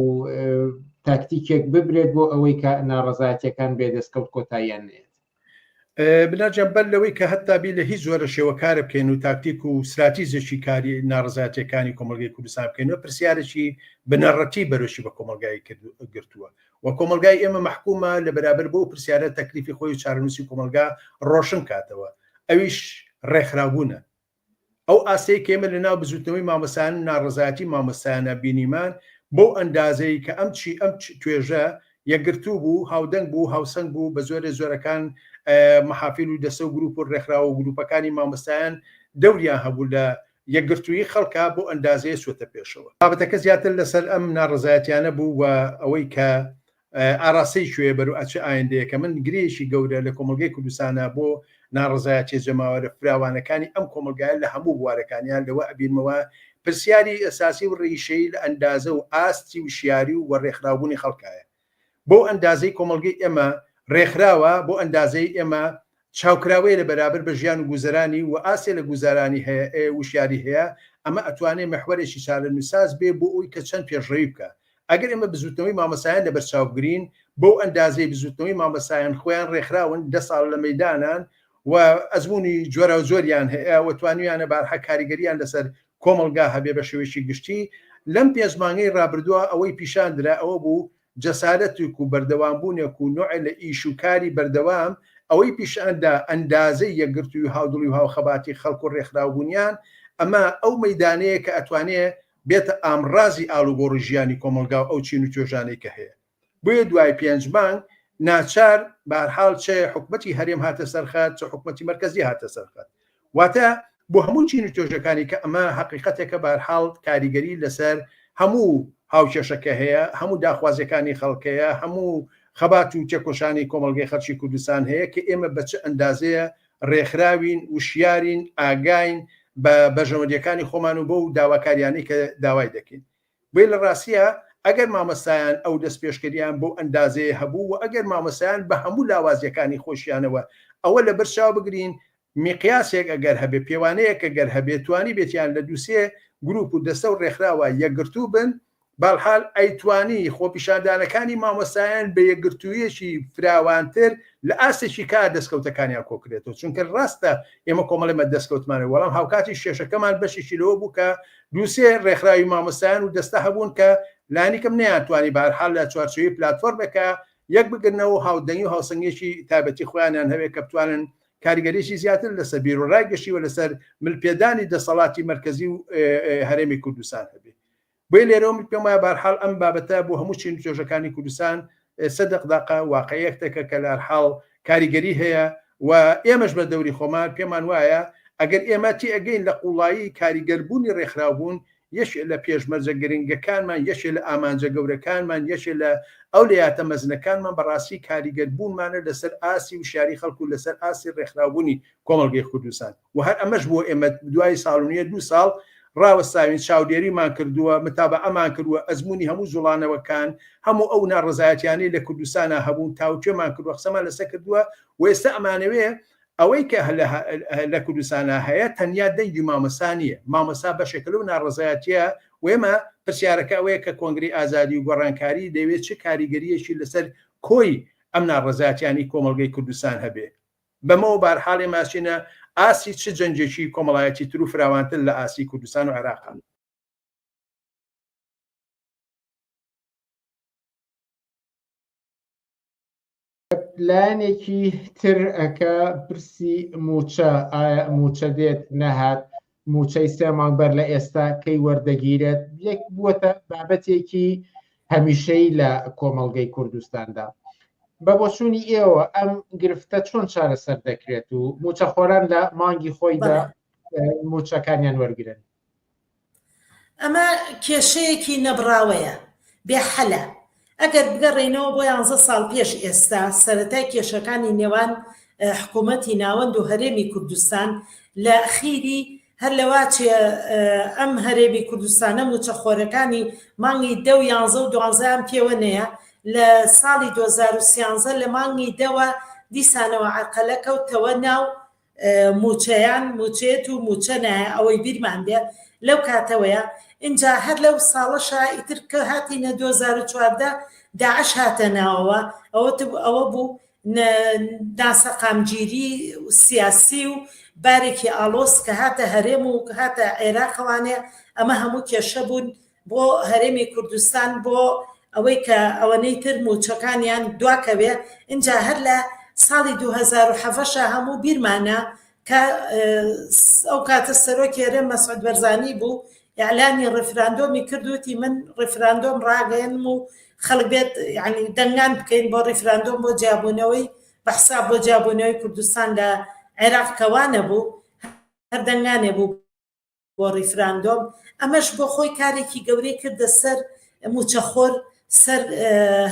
S2: تاکتیکێک ببرێت بۆ ئەوەی کە ناڕزایەتەکان بێ دەستکەوت کۆتاییان نێت
S6: بناجان بەر لەوەی کە هەتا بی لە هیچ زۆرە شێوەکارە بکەین و تاکتیک و سراتیزێکی کاری ناڕزاتەکانی کۆمەلگەی کوردستان بکەین و پرسیارێکی بنەڕەتی بەرەشی بە کۆمەلگای گرتووە و کۆمەلگای ئێمە مححکومە لە بەرابەر بۆ پرسیارە تەکلیفی خۆی چارنووسی کۆمەلگا ڕۆشن کاتەوە ئەویش ڕێکخراوبوونە ئەو ئاستەی کە ئێمە لەناو بزووتنەوەی مامۆستایان و ناڕەزایەتی مامۆستایانە بینیمان، بەو ئەندازەی کە ئەم چی ئەم توێژە یەکگرتوو بوو، هاودەنگ بوو، هاوسەنگ بوو، بە زۆرێ زۆرەکان مەحافیل و دەستە و گرووپ و ڕێکخراو و گرووپەکانی مامۆستایان دەوریان هەبوو لە یەکگرتوویی خەڵکا بەو ئەندازەیە چووەتە پێشەوە. بابەتەکە زیاتر لەسەر ئەم ناڕەزایەتیانە بوو و ئەوەی کە ئاراستەی کوێیە بەرو ئەچ ئایندەیەکە من گرێیەکی گەورە لە کۆمەڵگەی کوردستانە بۆ ناڕەزایەتیە جەماوەرە فراوانەکانی ئەم کۆمەڵگایە لە هەموو بوارەکانیان لەوە ئەبینمەوە پرسیاری ئەساسی و ڕیشەیی لە ئەندازە و ئاستی وشیاری و وەڕێخراوبوونی خەڵکایە بۆ ئەندازەی کۆمەڵگەی ئێمە ڕێکخراوە بۆ ئەندازەی ئێمە چاوکراوەیە لە بەرابر بە ژیان و گوزەرانی و ئاستێ لە گوزارانی هەیە ئێ وشیاری هەیە ئەمە ئەتوانێ مەحوەرێکی چارەنوساز بێ بۆ ئەوی کە چەند پێشڕەوی بکا ئەگەر ئێمە بزوتنەوەی مامەسایان لە بەرچاو بگرین بەو ئەندازەی بزوتنەوەی مامەسایان خۆیان رێکخراون دە ساڵە لە مەیدانان و ئەزمونی جۆراو جۆریان هەیە و توانویانە بارها کاریگەریان لە سەر کۆمەڵگا هەبێ بە شێوەیەکی گشتی لەم پێنج مانگەی رابردوا ئەوەی پیشان درا ئەوە بوو جەسارەتێک و بەردەوامبوونێک و نوعێ لە ئیش و کاری بەردەوام ئەوەی پیشان دا ئەندازەی یەکگرتووی و هاودڵی و هاوخەباتی خەڵک و رێکخراوبوونیان ئەمە ئەو مەیدانەیە کە ئەتوانێ بێتە ئامڕازی ئاڵوگۆڕی ژیانی کۆمەڵگا و ئەو چین و توێژانەی کە هەیە بۆیە دوای پێنج مانگ ناچار بەهەرحاڵ چێ حکومەتی هەرێم هاتە سەرخەت چ حکومەتی مەرکەزی هاتە سەرخەت واتە بۆ هەموو چین و توێژەکانی کە ئەمە هەقیقەتێکە بەهەرحاڵ کاریگەری لەسەر هەموو هاوکێشەکە هەیە، هەموو داخوازیەکانی خەڵک هەیە، هەموو خەبات و تێکۆشانی کۆمەڵگەی خەڵکی کوردستان هەیە کە ئێمە بە چ ئەندازەیە رێکخراوین، وشیارین، ئاگاین بە بەرژەوەندیەکانی خۆمان و بەو داواکاریانەی کە داوای دەکەین. بۆیە لە ڕاستییا ئەگەر مامۆستایان ئەو دەستپێشکەرییان بەو ئەندازەیە هەبوو و ئەگەر مامۆستایان بە هەموو لاوازیەکانی خۆشیانەوە ئەوە لە بەر چاو بگرین میقیاسێک ئەگەر هەبێ پێوانەیەک ئەگەر هەبێ توانیبێتیان لە دوو سێ گروپ و دەستە و ڕێکخراوە یەکگرتوو بن بەاڵحال ئەیتوانی خۆپیشاندانەکانی مامۆستایان بە یەکگرتوویەکی فراوانتر لە ئاستێکی کار دەستکەوتەکانیان کۆکرێتەوە چونکە ڕاستە ئێمە کۆمەڵێمە دەستکەوتمانە وەڵام هاوکاتی شێشەکەمان بەشێکی لەوە بوو کە دوو سێ ڕێکخراوی مامۆستایان و دەستە هەبوون کە لانیکەم نەیانتوانی بەهەرحاڵ لە چوارچێوەی پلاتفۆرمێکا یەک بگرنەوە و هاودەنگی و هاوسەنگیەکی تایبەتی خۆیانیان هەبێت کە بتوانن کاریگەریی زیاتر لەسەر بیروڕای گشتی و لەسەر مل پێدانی دەسەڵاتی مەرکەزی و هەرێمی کوردستان هەبێت بۆیە لێرەوە من پێم وایە بەهەرحاڵ ئەم بابەتە بۆ هەموو چین و توێژەکانی کوردستان ئێسە دەقداقە واقعیەکتەکە کە لە هەرحاڵ کاریگەری هەیە و ئێمەش بە دەوری خۆمان پێمان وایە ئەگەر ئێمە تێئەگەین لە قووڵایی کاریگەر بوونی ڕێکخراوبوون یەکێ لە پێشمەرجە گرنگەکانمان یەکێ لە ئامانجە گەورەکانمان یەکێ لە ئەولەیاتە مەزنەکانمان بە ڕاستی کاریگەر بوونمانە لە سەر ئاستی وشیاری خەڵک و لە سەر ئاستی ڕێکخراوبوونی کۆمەڵگەی خوردستان. و هەر ئەمەش بۆ ئێمە دوای ساڵ و نیە دوو ساڵ ڕاوەستاوین چاودێریمان کردووە متابەعەمان کردووە ئەزموونی هەموو جوڵانەوەکان هەموو ئەو ناڕەزایەتیانەی لە کوردستانا هەبوو تاوتوێمان کردووە قسەمان لەسە کردووە و ئێستا ئەمانەوێ ئەوەی کە لە کوردستانا هەیە تەنیا دەنگی مامۆستا نیە مامۆستا بەشێکە لەو ناڕەزایەتیە و ئێمە پرسیارەکە ئەوەیە کە کۆنگرەی ئازادی و گۆڕانکاری دەیەوێ چ کاریگەریەکی لەسەر کۆی ئەم ناڕەزایەتیانەی کۆمەڵگەی کوردستان هەبێ بەمەوە بارحاڵ ئێمە ئەچینە ئاستی چ جەنگێکی کۆمەڵایەتی تر و فراوانتر لە ئاستی کوردستان و عێراقە. لایەنێکی
S2: تر کە پرسی مووچە، ئایا مووچە دێت نەهات، مووچەی سێ مانگ بەر لە ئێستا کەی وەردەگیرێت یەک بووەتە بابەتێکی هەمیشەی لە کۆمەڵگەی کوردستاندا. بە بۆچوونی ئێوە ئەم گرفتە چۆن چارەسەر دەکرێت و موچەخۆران لە مانگی خۆیدا موچەکانیان وەرگن
S7: ئەمە کێشەیەکی نەبراوەیە بێحەلە ئەگەر بگەڕێینەوە بۆ یانزە ساڵ پێش ئێستا، سەرەتای کێشەکانی نێوان حکوومەتی ناوەند و هەرێمی کوردستان لە خیری هەر لە واچێ ئەم هەرێمی کوردستانە مووچەخۆرەکانی مانگی دە و یانزە و دوانزەیان پێوە نەیە لە ساڵی 2013 لە مانگی دەوە دیسانەوە عەرقەلە کەوتەوە ناو موچەیان موچێت و موچە نایە ئەوەی بیرمان بێ لەو کاتەوەیە ئینجا هەر لەو ساڵەشا ئیتر کە هاتینە 2014 داعش هاتە ناوەوە ئەوە ئەوە بوو ناسەقامگیری سیاسی و بارێکی ئالۆس کە هاتە هەرێم و هاتە عێراقەوانێ ئەمە هەموو کێشە بوون بۆ هەرێمی کوردستان بۆ ئەوەی کە ئەوەنەی تر موچەکانیان دواکەوێ اینجا هەر لە ساڵی 2007 هەموو بیرمانە کە ئەو کاتە سەرۆکی هەرێم مەسعود بەرزانی بوو ئەلانی ڕفراندۆمی کردوتی من ڕفراندۆم ڕاگەێنم و خەڵک بێت ینی دەنگان بکەین بۆ ڕیفراندۆم بۆ جیابوونەوەی بەحسا بۆ جیابوونەوەی کوردستان لە عێراق کەوانە بوو هەر دەنگانێ بوو بۆ ڕیفراندۆم ئەمەش بۆ خۆی کارێکی گەورەی کردە سەر موچەخۆر سەر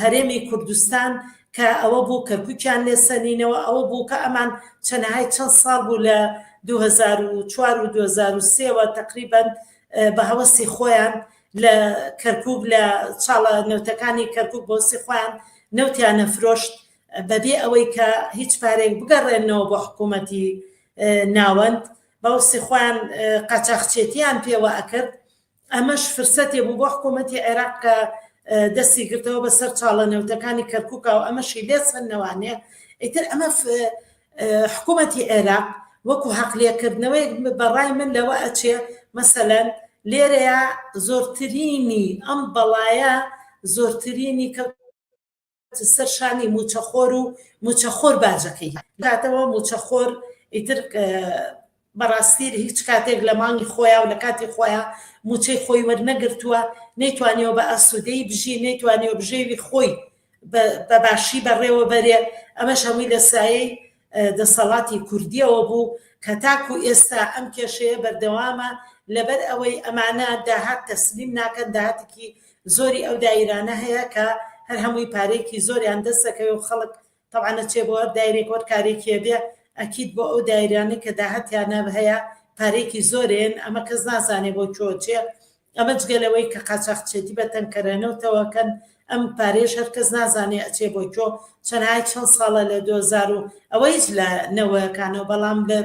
S7: هەرێمی کوردستان کە ئەوە بوو کە کوکیان لێ سەنینەوە ئەوە بوو کە ئەمان چەنەهای چەند ساڵ بوو لە 2004 و 2023ەوە تقریبان بە هەوەسی خۆیان لە کەرکک لە چاڵە نەوتەکانی کەرکک بۆسی خۆیان نەوتیان نەفرۆشت بەبێ ئەوەی کە هیچ پارێک بگەڕێنەوە بۆ حکوومەتی ناوەند باوسی خۆیان قاچاخچێتیان پێوە ئەکرد ئەمەش فرسەتێ بوو بۆ حکوومەتی عێراق کە دەستی گرتەوە بە سەر چاڵە نەوتەکانی کەرکووکا و ئەمەشی لێ سندنەوانێ ئیتر ئەمە حکوومەتی عێراق وەکو حەقلێکردنەوەی بەڕای من لەوە ئەچێ مەسەەن لێرەیە زۆرترینی ئەم بەڵایە زۆرترینی کە سەر شانی موچەخۆر و موچەخۆر باجەکەی داتەوە موچەخۆر ئیتر بەڕاستی هیچ کاتێک لە مانگی خۆیان و لە کاتی خۆیان موچەی خۆی وەرنەگرتووە نەیتوانیەوە بە ئاسوودەی بژی نەیتوانیەوە بژێوی خۆی بە باشی بەڕێوە بەرێ ئەمەش هەمووی لە سایەی دەسەڵاتی کوردیەوە بوو کە تاکو ئێستا ئەم کێشەیە بەردەوامە لەبەر ئەوەی ئەمانە داهات تەسلیم ناکەن داهاتێکی زۆری ئەو دایرانە هەیە کە هەر هەمووی پارێکی زۆریان دەست دەکەوێت و خەڵک تەوانە چێ بۆ هەر دایرێک وەر کارێکیە بێ ئەکییت بۆ ئەو دایرانە کە داهاتیانە هەیە پارێکی زۆرێن ئەمە کەس نازانێ بۆ چۆ چێ ئەمە جگە لەوەی کە قاچاخچێتی بە تەنکەرەنەو تەوەکەن ئەم پارەیەش هەر کەس نازانێ ئەچێ بۆ کۆ چەنای چەند ساڵە لە دۆزار و ئەوە هیچ لە نەوەکانەوە بەڵام لە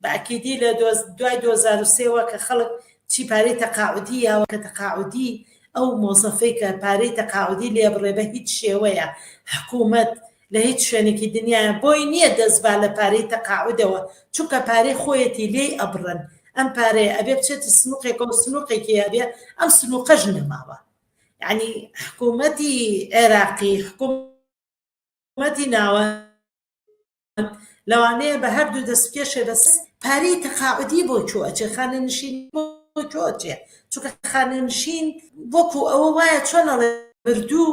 S7: بەعکیدی لە دوای 2023ەوە کە خەڵک چی پارەی تەقاعودی یاوە کە تەقاعودی ئەو مۆزەفەی کە پارەی تەقاعودی لێ بڕێ بە هیچ شێوەیە حکوومەت لە هیچ شوێنێکی دنیایا بۆی نیە دەست با لە پارەی تەقاعودەوە چونکە پارەی خۆیەتی لێی ئەبڕن ئەم پارەیە ئەبێ بچێتە سنوقێکەوە سنوقێکی ئەبێ ئەم سنوقەش نەماوە یعنی حکومەتی عێراقی حکوم مەتی ناوە لەوانەیە بە هەردوو دەست بکێشێ بەس پارەی تەقاعودی بۆ کوێ ئەچێ خانەنشینی بۆ کوێ ئەچێ چونکە خانەنشین وەکو ئەوە وایە چۆن ئەڵێ مردوو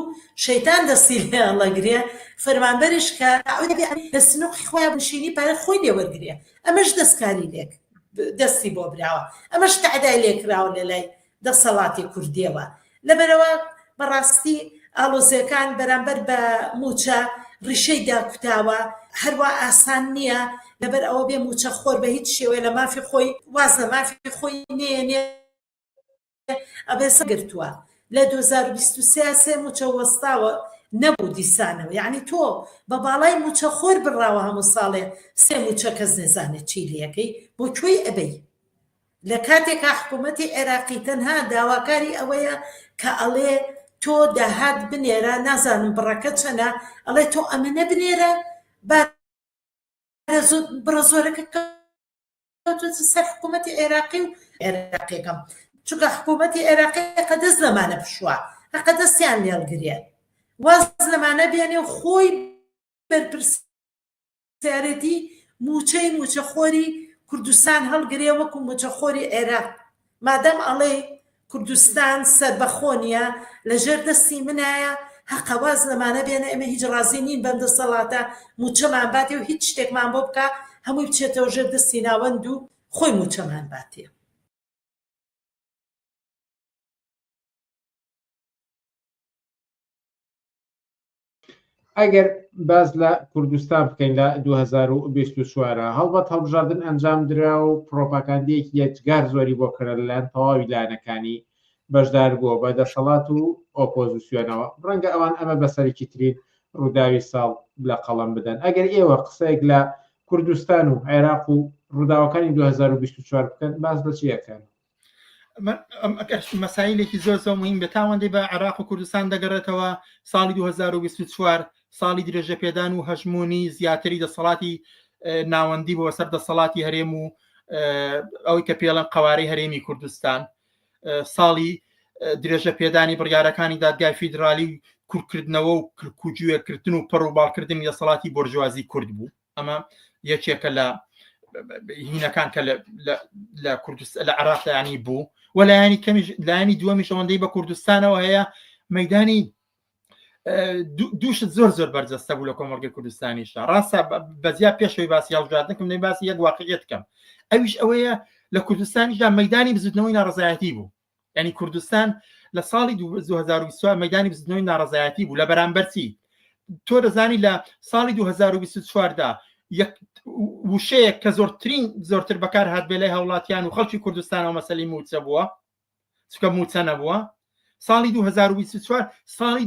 S7: شەیتان دەستی لێ ئەڵەگرێ فەرمانبەرش کە تعودی بێ لە سنووقی خۆیان بنشینی پارە خۆی لێ وەرگرێ ئەمەش دەستکاری لێک دەستی بۆ براوە ئەمەش تەعدای لێ کراوە لە لای دەسەڵاتی کوردیەوە لەبەرئەوە بەڕاستی ئاڵۆزیەکان بەرامبەر بە مووچە ڕیشەی داکوتاوە هەروا ئاسان نیە لەبەرئەوە بێ مووچە خۆر بە هیچ شێوەیە لە مافی خۆی واز لە مافی خۆی نێنێ ئەبێ سەگرتووە لە دوو هەزار و بیست و سێ سێ مووچە وەستاوە نەبوو دیسانەوە یعنی تۆ بە باڵای مووچە خۆر بڕاوە هەموو ساڵێ سێ مووچە کەس نێزانێت چی لەکەی بۆ کوێی ئەبەی لە کاتێکا حکوومەتی عێراقی تەنها داواکاری ئەوەیە کە ئەڵێ تۆ داهات بنێرە، نازانم بڕەکە چەنە، ئەڵێ تۆ ئەمەنە بنێرە با بڕە زۆرەکە کەوتۆتە سەر حکوومەتی عێراقی و عێراقیەکەم چونکە حکوومەتی عێراقی قە دەست لەمانە بشوە هەقە دەستیان لێڵگرێ واز لەمانە بێنێ و خۆی بەرپرسی سیارەتی موچەی موچە خۆری کوردستان هەڵگرێ وەکو موچە خۆری عێراق مادام ئەڵێ کوردستان سەربەخۆنیە لە ژێر دەستی منایە هەقەواز لەمانە بێنە ئەمە هیچ ڕازی نین بەندە سەڵاتە موچەمان باتێ و هیچ شتێکمان بۆ بکە هەمووی بچێتەوە ژێر دەستی ناوەند و خۆی موچەمان باتێ
S2: ئەگەر باز لە کوردستان بکەین لە 2024 هەڵبەت هەڵبژاردن ئەنجام درا و پرۆپاکاندەیەکی یەجگار زۆری بۆ کەرە لەلایەن تەواوی لایەنەکانی بەشدار بووە بە دەسەڵات و ئۆپۆزیسیۆنەوە ڕەنگە ئەوان ئەمە بەسەرێکی ترین ڕووداوی ساڵ لە قەڵم بدەن ئەگەر ئێوە قسەیەک لە کوردستان و عێراق و ڕووداوەکانی 2024 بکەن باز بەچیەکەن
S8: مەسایلێکی زۆر زۆر مهم بە تاوەندی بە عراق و کوردستان دەگەڕێتەوە ساڵی 2024 ساڵی درێژە پێدان و هەژمونی زیاتری دەسەڵاتی ناوەندی بۆ سەر دەسەڵاتی هەرێم و ئەوەی کە پێڵەن قوارەی هەرێمی کوردستان ساڵی درێژە پێدانی بڕیارەکانی دادگای فیدرالی کورکردنەوە و کرکوجوێکردن و پەڕوباڵکردنی دەسەڵاتی بۆرژوازی کورد بوو ئەمە یەکێکە لە هینەکان کە لە کوردست لە عراقیانی بوو و لایەنی کەمیش لایەنی دووەمیش ئەوەندەی بە کوردستانەوە هەیە مەدانی دووشت زۆر زۆر بەرجەستە بوو لە کۆمەلگەی کوردستانیشە ڕاستە بەزیا پێشەوەی باسی هەڵژاردنکم نەی باسی یەک واقعیت کەم ئەویش ئەوەیە لە کوردستانیشدا مەدانی بزوتنەوەی ناڕزایەتی بوو ینی کوردستان لە ساڵی 2024 مەدانی بزنەوەی ناڕزایەتی بوو لە بەرامبەرچی تۆ دەزانی لە ساڵی 2024دا وشەیە کە زۆرترین زۆرتر بەکار هاات بێ لای هاوڵاتیان و خەڵکی کوردستانەوە مەسلی موچە بووە چکە موچە نەبووە ساڵی 2024 ساڵی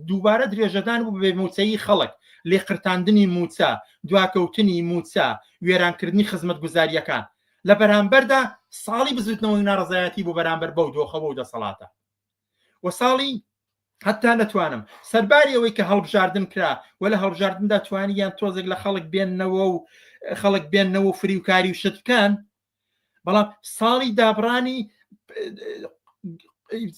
S8: دووبارە درێژەدان بوو بێ موچەی خەڵک لێقرتاندنی موچە دواکەوتنی موچە وێرانکردنی خزمەت گوزاریەکان لە بەرامبەردا ساڵی بزوتنەوەی ناڕزایەتی بۆ بەرامبەر بەو دۆخەوە و دەسەڵاتە و ساڵی حتا نەتوانم سەرباری ئەوەی کە هەڵبژاردن کرا و لە هەڵبژاردندا توانی یان تۆزێک لە خەڵک بێننەوە و خەڵک بێننەوە و فریوکاری و شت بکەن بەڵام ساڵی دابڕانی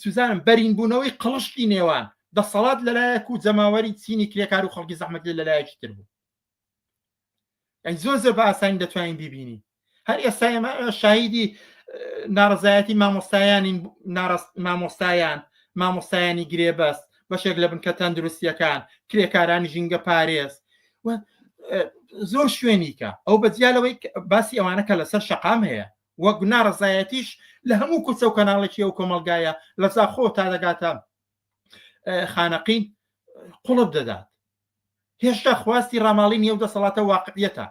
S8: سوزانم بەرین بوونەوەی قڵشتی نێوان دەسەڵات لەلایەک و جەماوەری چینی کرێکار و خەڵکی زەحمەتی لەلایەکی تر بوو ئەی زۆر زۆر بە ئاسانی دەتوانین بیبینین هەر ئێستا ئێمە شاهیدی ناڕزایەتی مامۆستایانین مامۆستایان مامۆستایانی گرێبەست بەشێک لە بنکە تەندروستیەکان کرێکارانی ژینگە پارێز زۆر شوێنیکە ئەو بەجیالەوەی باسی ئەوانە کە لەسەر شقام هەیە وەک ناڕزایەتیش لە هەموو کوچە و کەناڵێکی ئەو کۆمەلگایە لە زاخۆ تا دەگاتە خانەقین قوڵب دەدات هێشتا خواستی ڕاماڵینی ئەو دەسەڵاتە واقعیەتە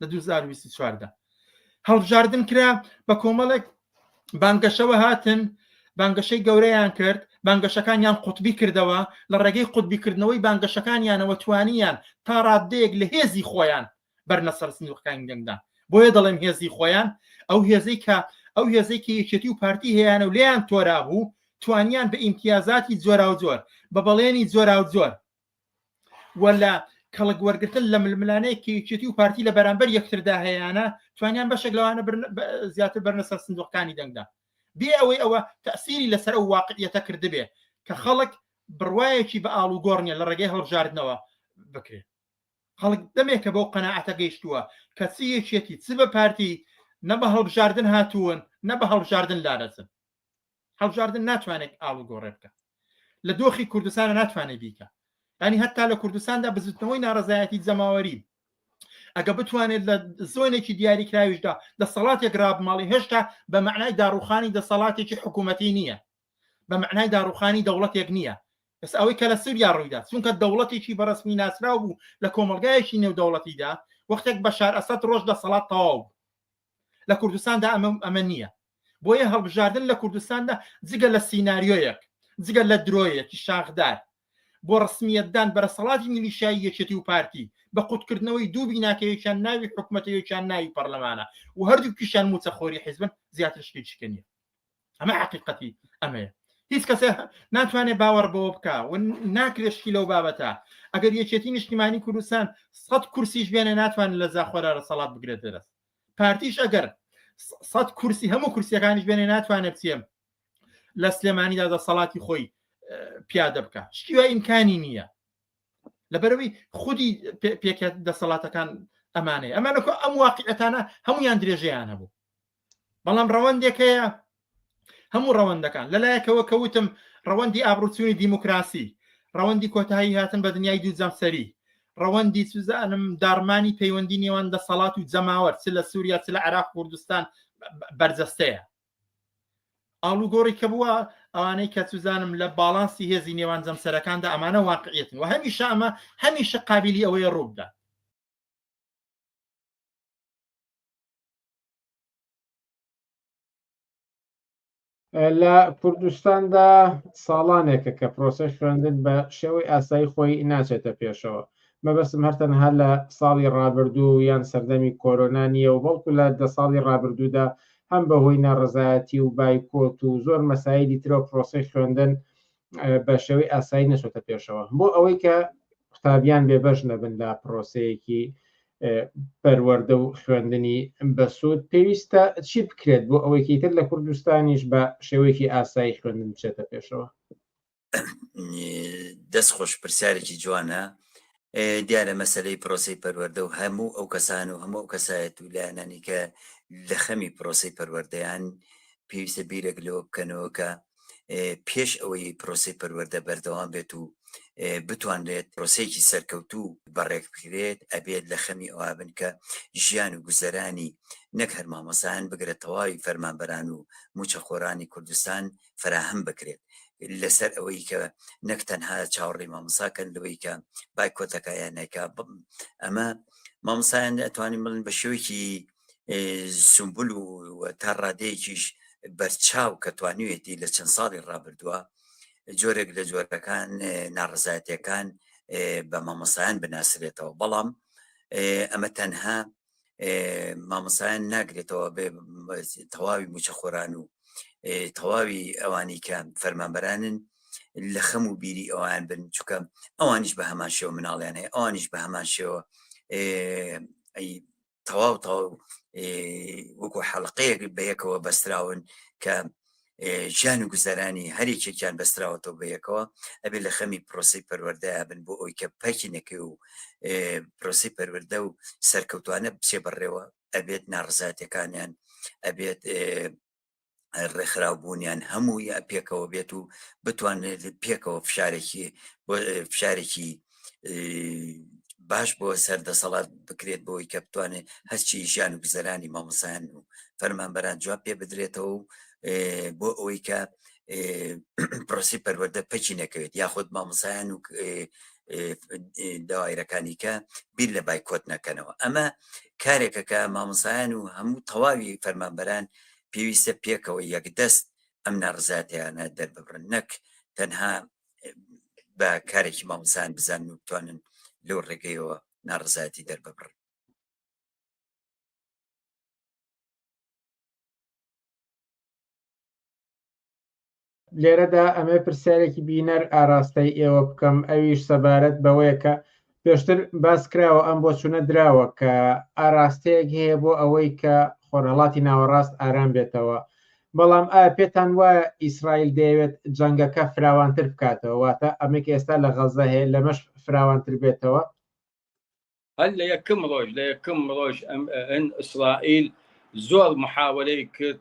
S8: لە دوو هەزار و بیست و چوار دا هەڵبژاردن کرا بە کۆمەڵێک بانگەشەوە هاتن بانگەشەی گەورەیان کرد بانگەشەکانیان قوتبی کردەوە لە ڕێگەی قوتبیکردنەوەی بانگەشەکانیانەوە توانیان تا ڕاددەیەک لە هێزی خۆیان بەرنە سەر سندوقەکانی دەنگدا بۆیە دەڵێم هێزی خۆیان ئەو هێزەی کە ئەو هێزەی کە یەکێتی و پارتی هەیەیانە و لێیان تۆرا بوو توانیان بە ئیمتیازاتی جۆرا و جۆر بە بەڵێنی جۆرا و جۆر و لە کەڵک وەرگتن لە ململانەیەک کە یەکێتی و پارتی لە بەرامبەر یەکتردا هەیەیانە توانیان بەشێک لەوانە زیاتر بەرنەسە سندوقەکانی دەنگدا بێ ئەوەی ئەوە تەسیری لەسەر ئەو واقعیەتە کردبێ کە خەڵک بڕواایەکی بە ئاڵ و گۆڕنیە لە ڕێگەی هەڵبژاردنەوە بکرێت خەڵک دەمێکە بەو قەنەعەتە گەیشتووە کە چی یەکێتی چ بە پارتی نە بە هەڵبژاردن هاتوون نە بە هەڵبژاردن لادەچن هەڵبژاردن ناتوانێت ئاڵوگۆڕێ بکە لە دۆخی کوردستانە ناتوانێت بیکە ینی هەتا لە کوردستاندا بزتنەوەی ناڕزایەتی جەماوەری ئەگە بتوانێت لە زۆنێکی دیاریکراویشدا دەسەڵاتێک رابماڵی هێشتا بە معنای داڕوخانی دەسەڵاتێکی حکوومەتی نییە بە معنای داڕوخانی دەوڵەتێک نییە بەس ئەوەی کە لە سووریا ڕوویدا چونکە دەوڵەتێکی بەڕسمی ناسراو بوو لە کۆمەلگایەکی نێودەوڵەتیدا وەختێک بەشار ئەسد ڕۆژ دەسەڵات تەواو لە کوردستاندا ئەمە ئەمە نییە بۆیە هەڵبژاردن لە کوردستاندا جگە لە سینناریۆیەک جگە لە درۆیەکی شاخدار بۆ ڕسمیەتدان بەرەسەڵاتی میلیشایی یەکێتی و پارتی بە قوتکردنەوەی دوو بیناکەیەکیان ناوی حکوومەتەیەکیان ناوی پەرلەمانە و هەردوو پیشان موچەخۆری حیزبن زیاتر شتی چکە نیە ئەمە حقیقەتی ئەمەیە هیچ کەسێ ناتوانێت باوەڕ بەوە بکە و ناکرێشتی لەو بابەتە ئەگەر یەکێتی نیشتیمانی کوردستان سەد کورسیش بێنێ ناتوان لە زاخۆرا لە سەڵات بگرێت دەست پارتیش ئەگەر سەد کورسی هەموو کورسیەکانیش بێنێ ناتوانێت بچێم لە سلێمانیدا دەسەڵاتی خۆی پیادە بکە شتیوە ئیمکانی نییە لەبەرەوەی خودی پێکێت دەسەڵاتەکان ئەمانەیە ئەمانەکە ئەم واقعەتانە هەمویان درێژەیان هەبوو بەڵام ڕەوەندێک هەیە هەموو ڕەوەندەکان لەلایەکەوە کەوتم ڕەوەندی ئابروچوونی دیموکراسی ڕەوەندی کۆتایی هاتن بە دنیای دوو جەمسەری ڕەوەندی سوزانم دارمانی پەیوەندی نێوان دەسەڵات و جەماوەر چ لە سووریا چ لە عراق کوردستان بەرجەستەیە ئاڵوگۆڕی کە بووە ئەوانەی کە سوزانم لە باڵانسی هێزی نێوان جەمسەرەکاندا ئەمانە واقعیتن و هەمیشە ئەمە هەمیشە قابلی ئەوەیە ڕووبدا
S2: لە کوردستاندا ساڵانێکە کە پرۆسەش خوێندن بە شێوەی ئاسایی خۆی ناچێتە پێشەوە مەبەستم هەرتەنها لە ساڵی ڕابردوو یان سەردەمی کۆرۆنا نییە و بەڵکو لە دە ساڵی ڕابردوودا هەم بەهۆی ناڕزایەتی و بایکۆت و زۆر مەسایلی ترەوە پرۆسی خوێندن بە شێوەی ئاسایی نەچۆتە پێشەوە بۆ ئەوەی کە قوتابیان بێبەش نەبن لە پرۆسەیەکی پەروەەردە و خوێندنی بەسوود پێویستە چی بکرێت بۆ ئەوەیکی تر لە کوردستانیش بە شێوەیەکی ئاسایی خوێندن بچێتە پێشەوە
S9: دەست خۆش پرسیارێکی جوانە دیارە مەسەلەی پرۆسەی پەروەردە و هەموو ئەو کەسان و هەموو ئەو کەسایەت و لایەنانی کە لە خەمی پرۆسەی پەروەردەیان پێویستە بیرێک لەوە بکەنەوە کە پێش ئەوەی پرۆسی پەروەەردە بەردەوام بێت و بتوانرێت پرۆسێکی سەرکەوتوو بەڕێک بکرێت ئەبێت لە خەمی ئەوابن کە ژیان و گوزەرانی نەک هەرمامەسان بگرە تەواوی فەرمانبەران و موچەخۆرانی کوردستان فەراهەم بکرێت لەسەر ئەوەی کە نەک تەنها چاوەڕی مامۆساکەن لەوەی کە بایکۆتەکە یانەکە ئەمە مامۆسایان ئەتوانین بڵن بە شێوەیەکی سمبول و تا ڕادەیەکیش بەرچاو کە توانوێتی لە چەند ساڵی ڕابردووە جۆرێک لە جۆرەکان ناڕزایەتەکان بە مامۆسایان بناسرێتەوە بەڵام ئەمە تەنها مامۆسایان ناگرێتەوە بێ تەواوی موچەخۆران و تەواوی ئەوانی کە فەرمانبەرانن لە خەم و بیری ئەوان بن چکە ئەوانیش بە هەمان شێوە مناڵیان هەیە ئەوانیش بە هەمان شێوە تەواو تەواو وەکو حەڵقەیەک بەیەکەوە بەستراون کە ژیان و گوزەرانی هەرێکێکیان بەستراوەتەوە بە یەکەوە ئەبێ لە خەمی پرۆسی پەروەردەیا بن بۆ ئەوی کە پاکینەکەی و پرۆسی پەروەردە و سەرکەوتوانە بچێ بەڕێوە ئەبێت ناڕزاتەکانیان ئەبێت ڕێکخراوبوونیان هەمووی پێکەوە بێت و بتوانێت پێکەوە فشارێکی فشارێکی باش بۆ سەر دەسەڵات بکرێت بۆی کە بتوانێت هەرچی ژیان و گوزەرانی مامۆسایان و فەرمانبەران جواب پێ بدرێتەوە و بۆ ئەوەی کە پرۆسی پەروەەردە پەکی نەکەوێت یاخود مامۆسایان و داوایرەکانی کە بیر لە بایکۆت نەکەنەوە ئەمە کارێکە کە مامۆسایان و هەموو تەواوی فەرمانبەران پێویستە پێکەوە یەکدەست ئەم ناڕزاتیانە دەرببرن نەک تەنها بە کارێکی مامۆسان بزان و بتوانن لەو ڕێگەیەوە ناڕزایەتی دەرببڕن
S2: لێرەدا ئەمێ پرسیارێکی بینەر ئاراستەی ئێوە بکەم ئەویش سەبارەت بەوەیە کە پێشتر باس کراوە ئەم بۆچوونە دراوە کە ئاراستەیەک هەیە بۆ ئەوەی کە خۆرهەڵاتی ناوەڕاست ئارام بێتەوە، بەڵام ئایا پێتان وایە ئیسرائیل دەیەوێت جەنگەکە فراوانتر بکاتەوە، واتە ئەمەی کە ئێستا لە غەززە هەیە لەمەش فراوانتر بێتەوە؟
S10: هەر لە یەکەم ڕۆژ لە یەکەم ڕۆژ ئیسرائیل زۆر محاوەرەی کرد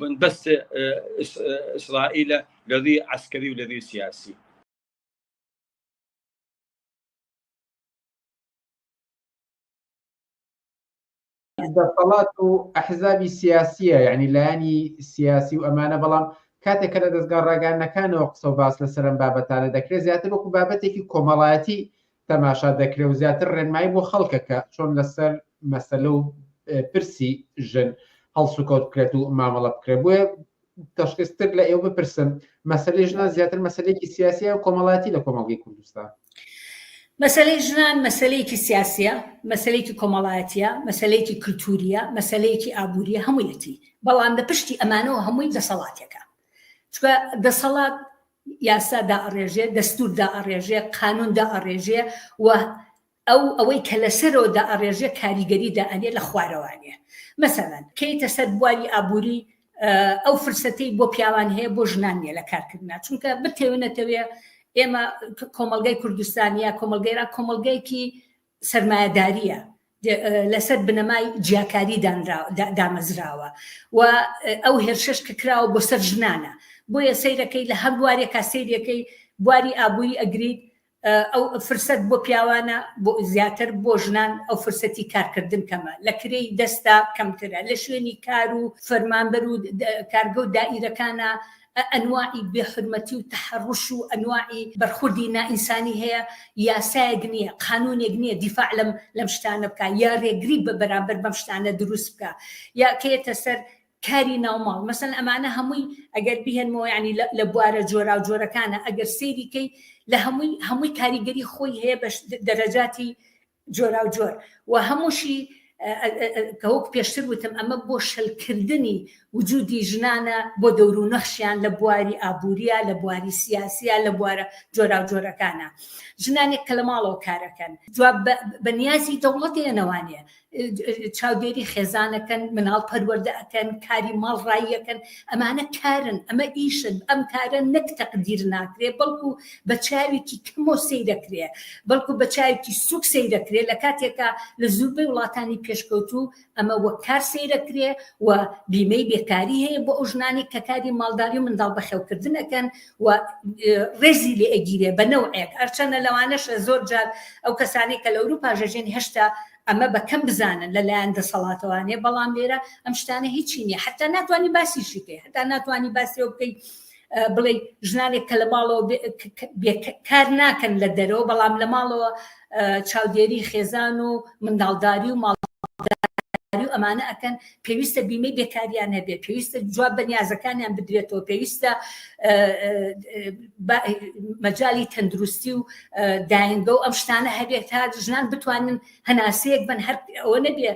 S10: بنبست ئیسرائیل لە ڕوی عسکەری و لە ڕوی سیاسی
S2: دەسەڵات و ئەحزابی سیاسیە یعنی لایانی سیاسی و ئەمانە بەڵام کاتێک کە لە دەستگا ڕاگەانەکانەوە قسە و باس لە سەرم بابەتانە دەکرێت زیاتر وەکو بابەتێکی کۆمەڵایەتی تەماشا دەکرێ و زیاتر ڕێنمایی بۆ خەڵکەکە چۆن لەسەر مەسەلە و پرسی ژن هەڵسوکەوت بکرێت و مامەڵە بکرێت بۆیە تەشخیستر لە ئێوە بپرسم مەسلەی ژنان زیاتر مەسلێکی سیاسیە و کۆمەڵاتی لە کۆمەڵگەی کوردستان مەسلەی
S11: ژنان مەسلەیەکی سیاسیە مەسلەیەکی کۆمەڵایەتە مەسلەیەکی کللتوریە مەسلەیەکی ئابووریە هەموویەتی بەڵام لە پشتی ئەمانەوە هەمووی دەسەڵاتێکە چکە دەسەڵات یاسا دائەڕێژێ، دەستوور دائەڕێژێ، قانوون دائەڕێژێ و ئەو ئەوەی کە لە سەرەوە دائەڕێژێ کاریگەری دائەنێ لە خوارەوانێ. مەسەلەن، کەیتە سەر بواری ئابووری، ئەو فرسەتەی بۆ پیاوان هەیە بۆ ژنان نییە لە کارکردنا. چونکە بتەوێ نەتەوێ ئێمە کۆمەڵگای کوردستان یا کۆمەڵگای ئێران کۆمەڵگایەکی سەرمایەدارییە لەسەر بنەمای جیاکاری دامەزراوە و ئەو هێرشش کە کراوە بۆ سەر ژنانە بۆیە سیرەکەی لە هەر بوارێکا سیرەکەی بواری ئابووری ئەگریت ئەو فرسەت بۆ پیاوانە بۆ زیاتر بۆ ژنان ئەو فرسەتی کارکردن کەمە لە کرێی دەستا کەمترە لە شوێنی کار و فەرمانبەر و کارگە و دائیرەکانە ئەنواعی بێ حورمەتی و تەحەڕوش و ئەنواعی بەرخوردی نائینسانی هەیە، یاسایەک نییە، قانوونێک نییە دیفاع لەم لەم شتانە بکا یا رێگری بە بەرامبەر بەم شتانە دروست بکا یا کەیەتە سەر کاری ناوماڵ مەسەن ئەمانە هەمووی ئەگەر بیهێنمەوە یعنی لە لە بوارە جۆراوجۆرەکانە ئەگەر سەیری کەی لە هەمووی هەمووی کاریگەری خۆی هەیە بە دەرەجاتی جۆراوجۆر و هەمووشی کە وەک پێشتر وتم ئەمە بۆ شەلکردنی وجودی ژنانە بۆ دەورو نەخشیان لە بواری ئابووریە لە بواری سیاسیە لە بوارە جۆراوجۆرەکانە ژنانێک کە لە ماڵەوە کارەکەن جواب بە نیازی دەوڵەتی ئەنەوانە چاودێری خێزانەکەن مناڵ پەروەەردە ئەەکەن کاری ماڵ ڕاییەکەن ئەمانە کارن ئەمە ئیشن ئەم کارە نەک تەقدیر ناکرێ بەڵکو بە چاوێکی کەمەوە سەیدەکرێ بەڵکو بە چاوێکی سوک سەیدەکرێ لە کاتێکا لە زوربەی وڵاتانی پێشکەوتوو ئەمە وەک کار سەیرەکرێ و بیمەی بێکاری هەیە بۆ ئەو ژنانی کە کاری ماڵداری و منداڵ بەخێوکردن ئەکەن و ڕێزی لێ ئەگیرێ بە نەوعێک ئەرچەنە لەوانەشە زۆر جار ئەو کەسانی کە لە ئەوروپا ژەژێن هێشتا ئەمە بەکەم بزانن لەلایەن دەسەڵاتەوانێ بەڵام لێرە ئەم شتانە هیچی نیە حتا ناتوانانی باسیشی بکەی حتا ناتوانانی باسی بکەیت بڵێ ژنانێک کە لە ماڵەوە کار ناکەن لە دەرەوە بەڵام لە ماڵەوە چاودێری خێزان و منداڵداری و ماڵ و ئەمانە ئەکەن پێویستە بیمەی بێکاریان هەبێت پێویستە جواب بە نیازەکانیان بدرێتەوە پێویستە مەجای تەندروستی و داینگە و ئەم شتانە هەبێت تا ژنان بتوانن هەناسەیەک بن هەر ئەوە نەبێ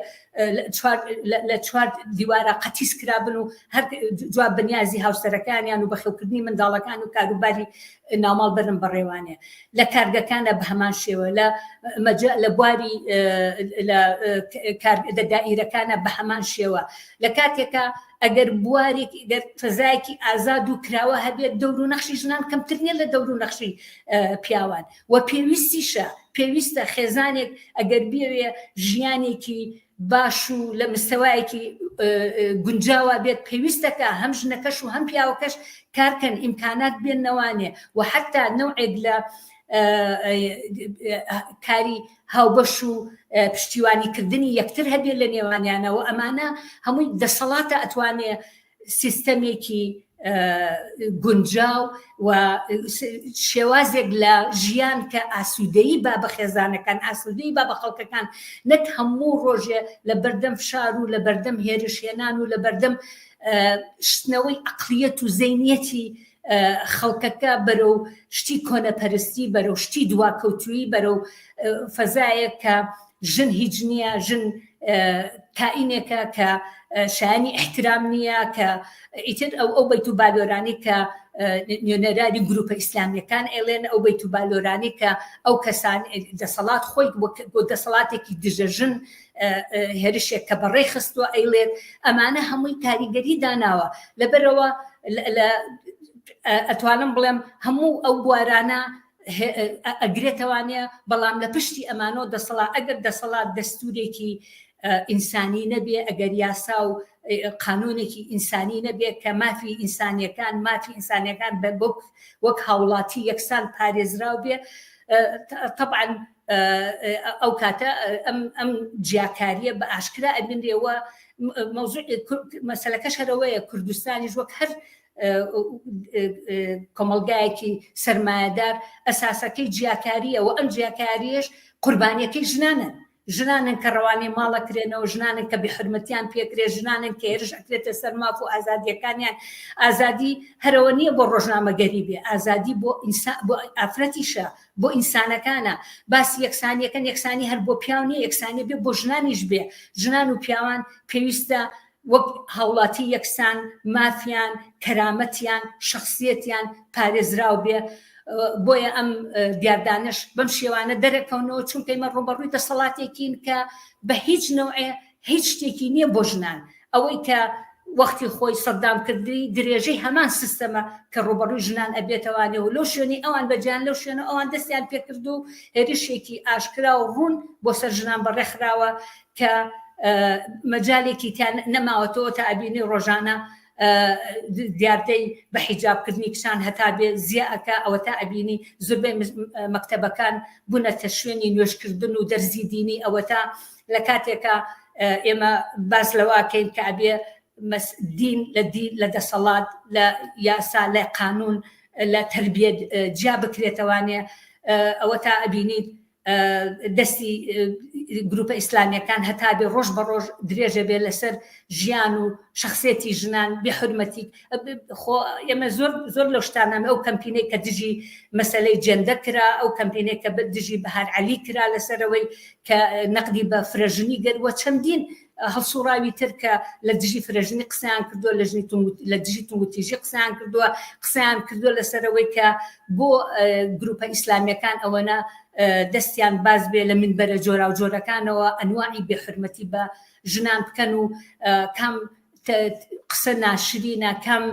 S11: لە چوار دیوارە قەتیس کرابن و هەر جواب بەنیازی هاوسەرەکانیان و بەخێوکردنی منداڵەکان و کاروباری ناماڵ بەرم بەڕێوانێ لە کارگەکانە بە هەمان شێوە لە مەجە لە بواری دائیرەکانە بە هەمان شێوە لە کاتێکە ئەگەر بوارێک گەر فەزایەکی ئازاد و کراوە هەبێت دەور و نەخشی ژنان کەمتر نیە لە دەور و نەخشی پیاوان وە پێویستیشە پێویستە خێزانێک ئەگەر بێوێ ژیانێکی باش و لە مستەوایەکی گونجاوا بێت پێویستەکە هەم ژنەکەش و هەم پیاوەکەش کارکەن ئیمکانات بێن نەوانێ و حتا نەوعێک لە کاری هاوبەش و پشتیوانیکردنی یەکتر هەبێت لە نێوانیانەوە ئەمانە هەمووی دەسەڵاتە ئەتوانێ سیستەمێکی گونجاو و شێوازێک لە ژیان کە ئاسوودەی با بە خێزانەکان ئاسوودەی با بە خەڵکەکان نەک هەموو ڕۆژێ لە بەردەم فشار و لە بەردەم هێرشێنان و لە بەردەم شتنەوەی ئەقلیەت و زینەتی خەڵکەکە بەرەو شتی کۆنەپەرستی بەرەو شتی دواکەوتویی بەرەو فەزایە کە ژن هیچ نییە ژن کائینێکە کە شایانی احترام نییە کە ئیتر ئەو ئەو بەیت و بالۆرانی کە نوێنەراری گروپە ئیسلامیەکان ئێڵێن ئەو بەیت و بالۆرانی کە ئەو کەسان دەسەڵات خۆی بۆ دەسەڵاتێکی دژەژن هێرشێک کە بە ڕێ خستووە ئەیڵێت ئەمانە هەمووی کاریگەری داناوە لەبەرەوە ئەتوانم بڵێم هەموو ئەو بوارانە ئەگرێتەوانەیە بەڵام لە پشتی ئەمانۆ دەسەڵات ئەگەر دەسەڵات دەستورێکی ئینسانی نەبێ ئەگەر یاسا و قانونێکی ئینسانی نەبێت کە مافی ئینسانیەکان مافی ئینسانەکان بە بک وەک هاوڵاتی یەکسان پارێزراو بێ طبعا ئەو کاتە ئەم جیاکاریە بە ئاشکرا ئەبینرێەوە مەسلەکەش هەرەوەیە کوردستانیش وەک هەر کۆمەلگایەکی سرمایهدار ئەساسەکەی جیاکاریە و ئەم جیاکاریش قوربانیەکەی ژنانن ژنانن کە ڕەوانەی ماڵەکرێنەوە ژنانن کە بحرمەتیان پێکرێ ژنانن کە هێرش ئەکرێتە سەر ماف و ئازادیەکانیان ئازادی هەرەوە نییە بۆ ڕۆژنامەگەری بێ ئازادی بۆ ئینسا بۆ ئافرەتیشە بۆ ئینسانەکانە باسی یەکسانیەکەن یەکسانی هەر بۆ پیاو نیە یەکسانی بێ بۆ ژنانیش بێ ژنان و پیاوان پێویستە وەک هاوڵاتی یەکسان مافیان کەرامەتیان شخصیەتیان پارێزراو بێ بۆیە ئەم دیاردانش بەم شێوانە دەرەکەونەوە چونکەیمە ڕوبەڕووی دەسەڵاتێکین کە بە هیچ نەوعێ هیچ شتێکی نیە بۆ ژنان ئەوەی کە وەختی خۆی سەدام کردی درێژەی هەمان سیستەمە کە ڕوبەڕوی ژنان ئەبێتەوانێ و لەو شوێنی ئەوان بەجیان لەو شوێنە ئەوان دەستیان پێکرد و هێرشێکی ئاشکرا و ڕوون بۆ سەر ژنان بەڕێخراوە کە مەجالێکی تیان نەماوەتەوە تا ئەبینی ڕۆژانە دیاردەی بە حیجابکردنی کچان هەتا بێ زیاکە ئەوە تا ئەبینی زوربەی مەکتتەبەکان بوونەتە شوێنی نوێشکردن و دەرزی دینی ئەوە تا لە کاتێکا ئێمە باس لەواکەین کە ئەبێ دین لە دین لە دەسەڵات لە یاسا لە قانون لە تربیەت جیا بکرێتەوانێ ئەوە تا ئەبینیت دەستی گروپە ئیسلامیەکان هەتا بێ ڕۆژ بە ڕۆژ درێژە بێ لەسەر ژیان و شخصێتی ژنان بێ حرمەتی خۆ ئێمە زۆر زۆر لەو شتانامە ئەو کەمپینەی کە دژی مەسلەی جێندە کرا ئەو کەمپینێک کە دژی بەهار علی کرا لەسەرەوەی کە نەقدی بە فرەژنی گەروە چەندین هەڵسوڕاوی تر کە لە دژی فرەژنی قسەیان کردووە لە ژنی لە دژی تووتیژی قسەیان کردووە قسەیان کردووە لەسەرەوەی کە بۆ گروپە ئیسلامیەکان ئەوەنە دەستیان باز بێ لە من بەرە جۆرا و جۆرەکانەوە ئەنواعی بێحرمەتی بە ژنان بکەن و کام قسە ناشرینە کەم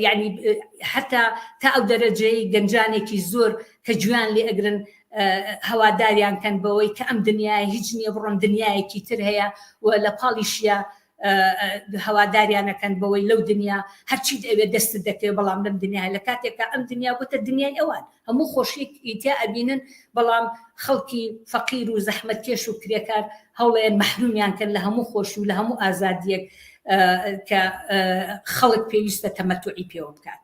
S11: یعنی حتا تا ئەو دەرەجەی گەنجانێکی زۆر کە جویان لێ ئەگرن هەواداریان کەن بەوەی کە ئەم دنیای هیچ نییە بڕۆن دنیایەکی تر هەیە و لە پاڵیشە هەواداریانەکەن بەوەی لەو دنیا هەرچیت ئەوێ دەست دەکەێت بەڵام لەم دنیا لە کاتێکا ئەم دنیا بۆتە دنیای ئەوان هەموو خۆشیەک ی تیا ئەبینن بەڵام خەڵکی فەقیر و زەحمەت کێش و کرێکار هەوڵەیەن مەحرومیان کەن لە هەموو خۆشی و لە هەموو ئازادیەک کە خەڵک پێویستە تەمەتوعی پێوە بکات.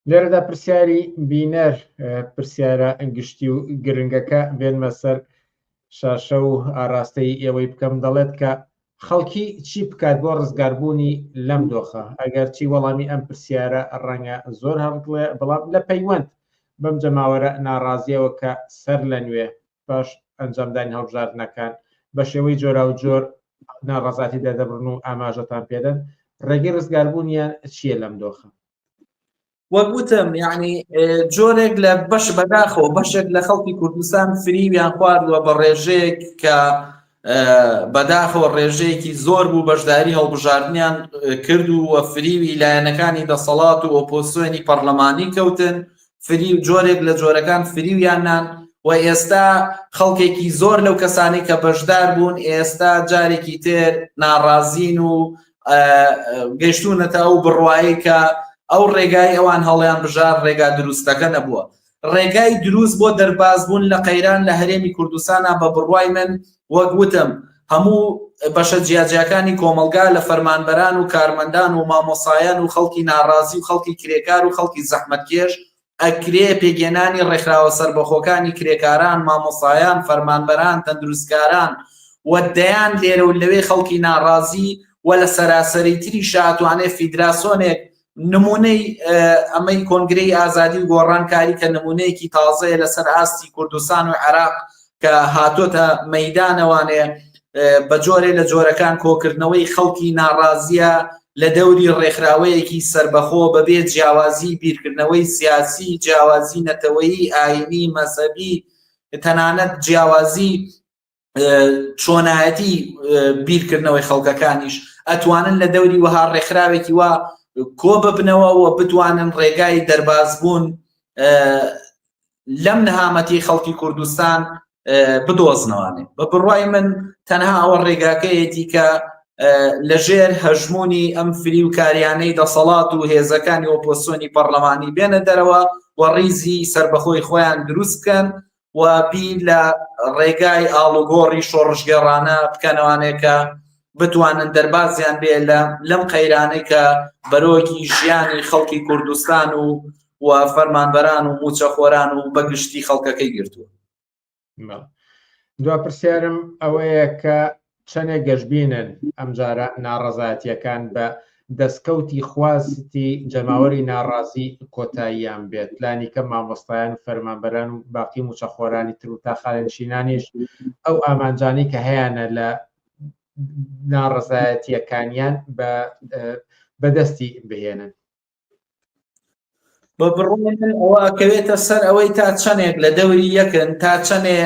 S2: لێرەدا پرسیاری بینەر پرسیارە گشتی و گرنگەکە بێنمە سەر شاشە و ئاراستەی ئێوەی بکەم دەڵێت کە خەڵکی چی بکات بۆ ڕزگاربوونی لەم دۆخە ئەگەر چی وەڵامی ئەم پرسیارە ڕەنگە زۆر هەڵڵێ بەڵام لە پەیوەند بەم جەماوەرە ناڕازیەوە کە سەر لە نوێ باش ئەنجامدانی هەڵبژاردنەکان بە شێوەی جۆرا و جۆر ناڕازاتی دەدەبرن و ئاماژەتان پێدەن ڕێگەی ڕزگاربوونیان چییە لەم دۆخە وەک
S12: وتم یعنی جۆرێک لە بەش بەداخەوە بەشێک لە خەڵکی کوردستان فریویان خواردووە بە ڕێژەیەک کە بەداخەوە ڕێژەیەکی زۆر بوو بەشداری هەڵبژاردنیان کرد و وە فریوی لایەنەکانی دەسەڵات و ئۆپۆسیۆنی پەرلەمانی کەوتن فری و جۆرێک لە جۆرەکان فریویان نان و ئێستا خەڵکێکی زۆر لەو کەسانی کە بەشدار بوون ئێستا جارێکی تر ناڕازین و گەشتونەتە ئەو بڕواایی کە ئەو ڕێگای ئەوان هەڵیان بژار ڕێگا دروستەکە نەبووە ڕێگای دروست بۆ دەربازبوون لە قەیران لە هەرێمی کوردستانە بە بڕوای من وەک وتم هەموو بەشە جیاجیاکانی کۆمەلگا لە فەرمانبەران و کارمەندان و مامۆسایان و خەڵکی ناڕازی و خەڵکی کرێکار و خەڵکی زەحمەتکێش ئەکرێ پێکهێنانی ڕێکخراوە سەربەخۆکانی کرێکاران، مامۆستایان، فەرمانبەران، تەندروستکاران و دەیان لێرە و لەوێ خەڵکی ناڕازی و لە سەراسەری تری شاتوانێ فیدراسۆنێک نمونەی ئەمەی کۆنگرەی ئازادی و گۆڕان کاری کە نمونەیەکی تازەیە لەسەر ئاستی کوردستان و عێراق کە هاتۆتە مەدانەوانێ بە جۆرێ لە جۆرەکان کۆکردنەوەی خەڵکی ناڕازیە لە دەوری ڕێکخراوەیەکی سربەخۆ بەبێ جیاوازی بیرکردنەوەی سیاسی جیاوازی نەتەوەیی ئاینی مەسەبی تەنانەت جیاوازی چۆنایەتی بیرکردنەوەی خەڵکەکانیش ئەتوانن لە دەوری وەها ڕێکخراوێکی وا کۆ ببنەوە و بتوانن ڕێگای دەرباز بوون لەم نەهامەتی خەڵکی کوردستان بدۆزنەوانێ بە بڕای من تەنها ئەوە ڕێگاکەیەتی کە لەژێر هەژمونی ئەم فری و کاریانەی دەسەڵات و هێزەکانی ئۆپۆسیۆنی پەرلەمانی بێنە دەرەوە و ڕیزی سربەخۆی خۆیان دروست بکەن و بیر لە ڕێگای ئاڵوگۆڕی شۆڕژگەڕانە بکەنەوانێکە بتوانن دەربازیان بێ لە لەم قەیرانەی کە بەرۆکی ژیانی خەڵکی کوردستان و و فەرمانبەران و موچەخۆران و بەگشتی خەڵکەکەی گرتووە دو
S2: پرسیارم ئەوەیە کە چەنێ گەشببینن ئەمجارە ناڕەزایەتیەکان بە دەستکەوتی خواستی جەماوەری ناڕازی کۆتاییان بێت لانیکە مامۆستایان و فەرمانبەران و باقی موچەخۆرانی تر و تاخالنشینانیش ئەو ئامانجانی کە هەیەە لە ناڕەزایەتیەکانیان بە بەدەستی بهێنن
S12: بە بڕۆێن ئەوە ئەکەوێتە سەر ئەوەی تا چەندێک لە دەوری یەکن تا چەندێ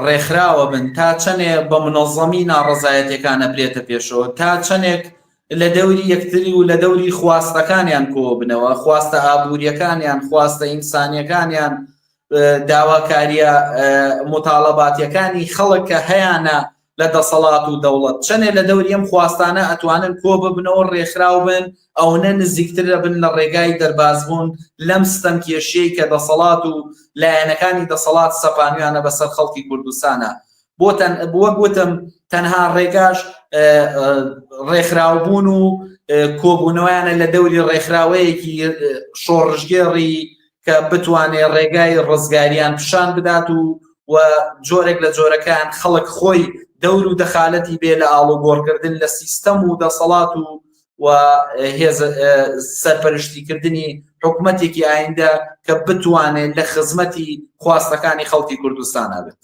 S12: ڕێکخراوە بن تا چەندێ بە منەظەمی ناڕزایەتەکانە برێتە پێشەوە تا چەندێک لە دەوری یەکتری و لە دەوری خواستەکانیان کۆ بنەوە خواستە ئابوووریەکانیان خواستە ئینسانیەکانیان داواکاریە مطالباتەکانی خەڵک کە هەیەە لە دەسەڵات و دەوڵەت چەنێ لە دەوری ئەم خواستانە ئەتوانن کۆ ببنەوە ڕێکخراو بن ئەونە نزیکتر ئەبن لە ڕێگای دەربازبوون لەم ستەمکێشیەی کە دەسەڵات و لایەنەکانی دەسەڵات سەپانویانە بەسەر خەڵکی کوردستانا بۆتەن وەک وتم تەنها ڕێگاش ڕێکخراوبوون و کۆبوونەوەیانە لە دەوری ڕێکخراوەیەکی شۆڕژگێڕی کە بتوانێ ڕێگای ڕزگاریان پیشان بدات و و جۆرێک لە جۆرەکان خەڵک خۆی دەور و دەخالەتی بێ لە ئاڵوگۆڕکردن لە سیستەم و دەسەڵات و و هێز سەرپەرشتیکردنی حکوومەتێکی ئایندە کە بتوانێت لە خزمەتی خواستەکانی خەڵکی کوردستان ئەبێت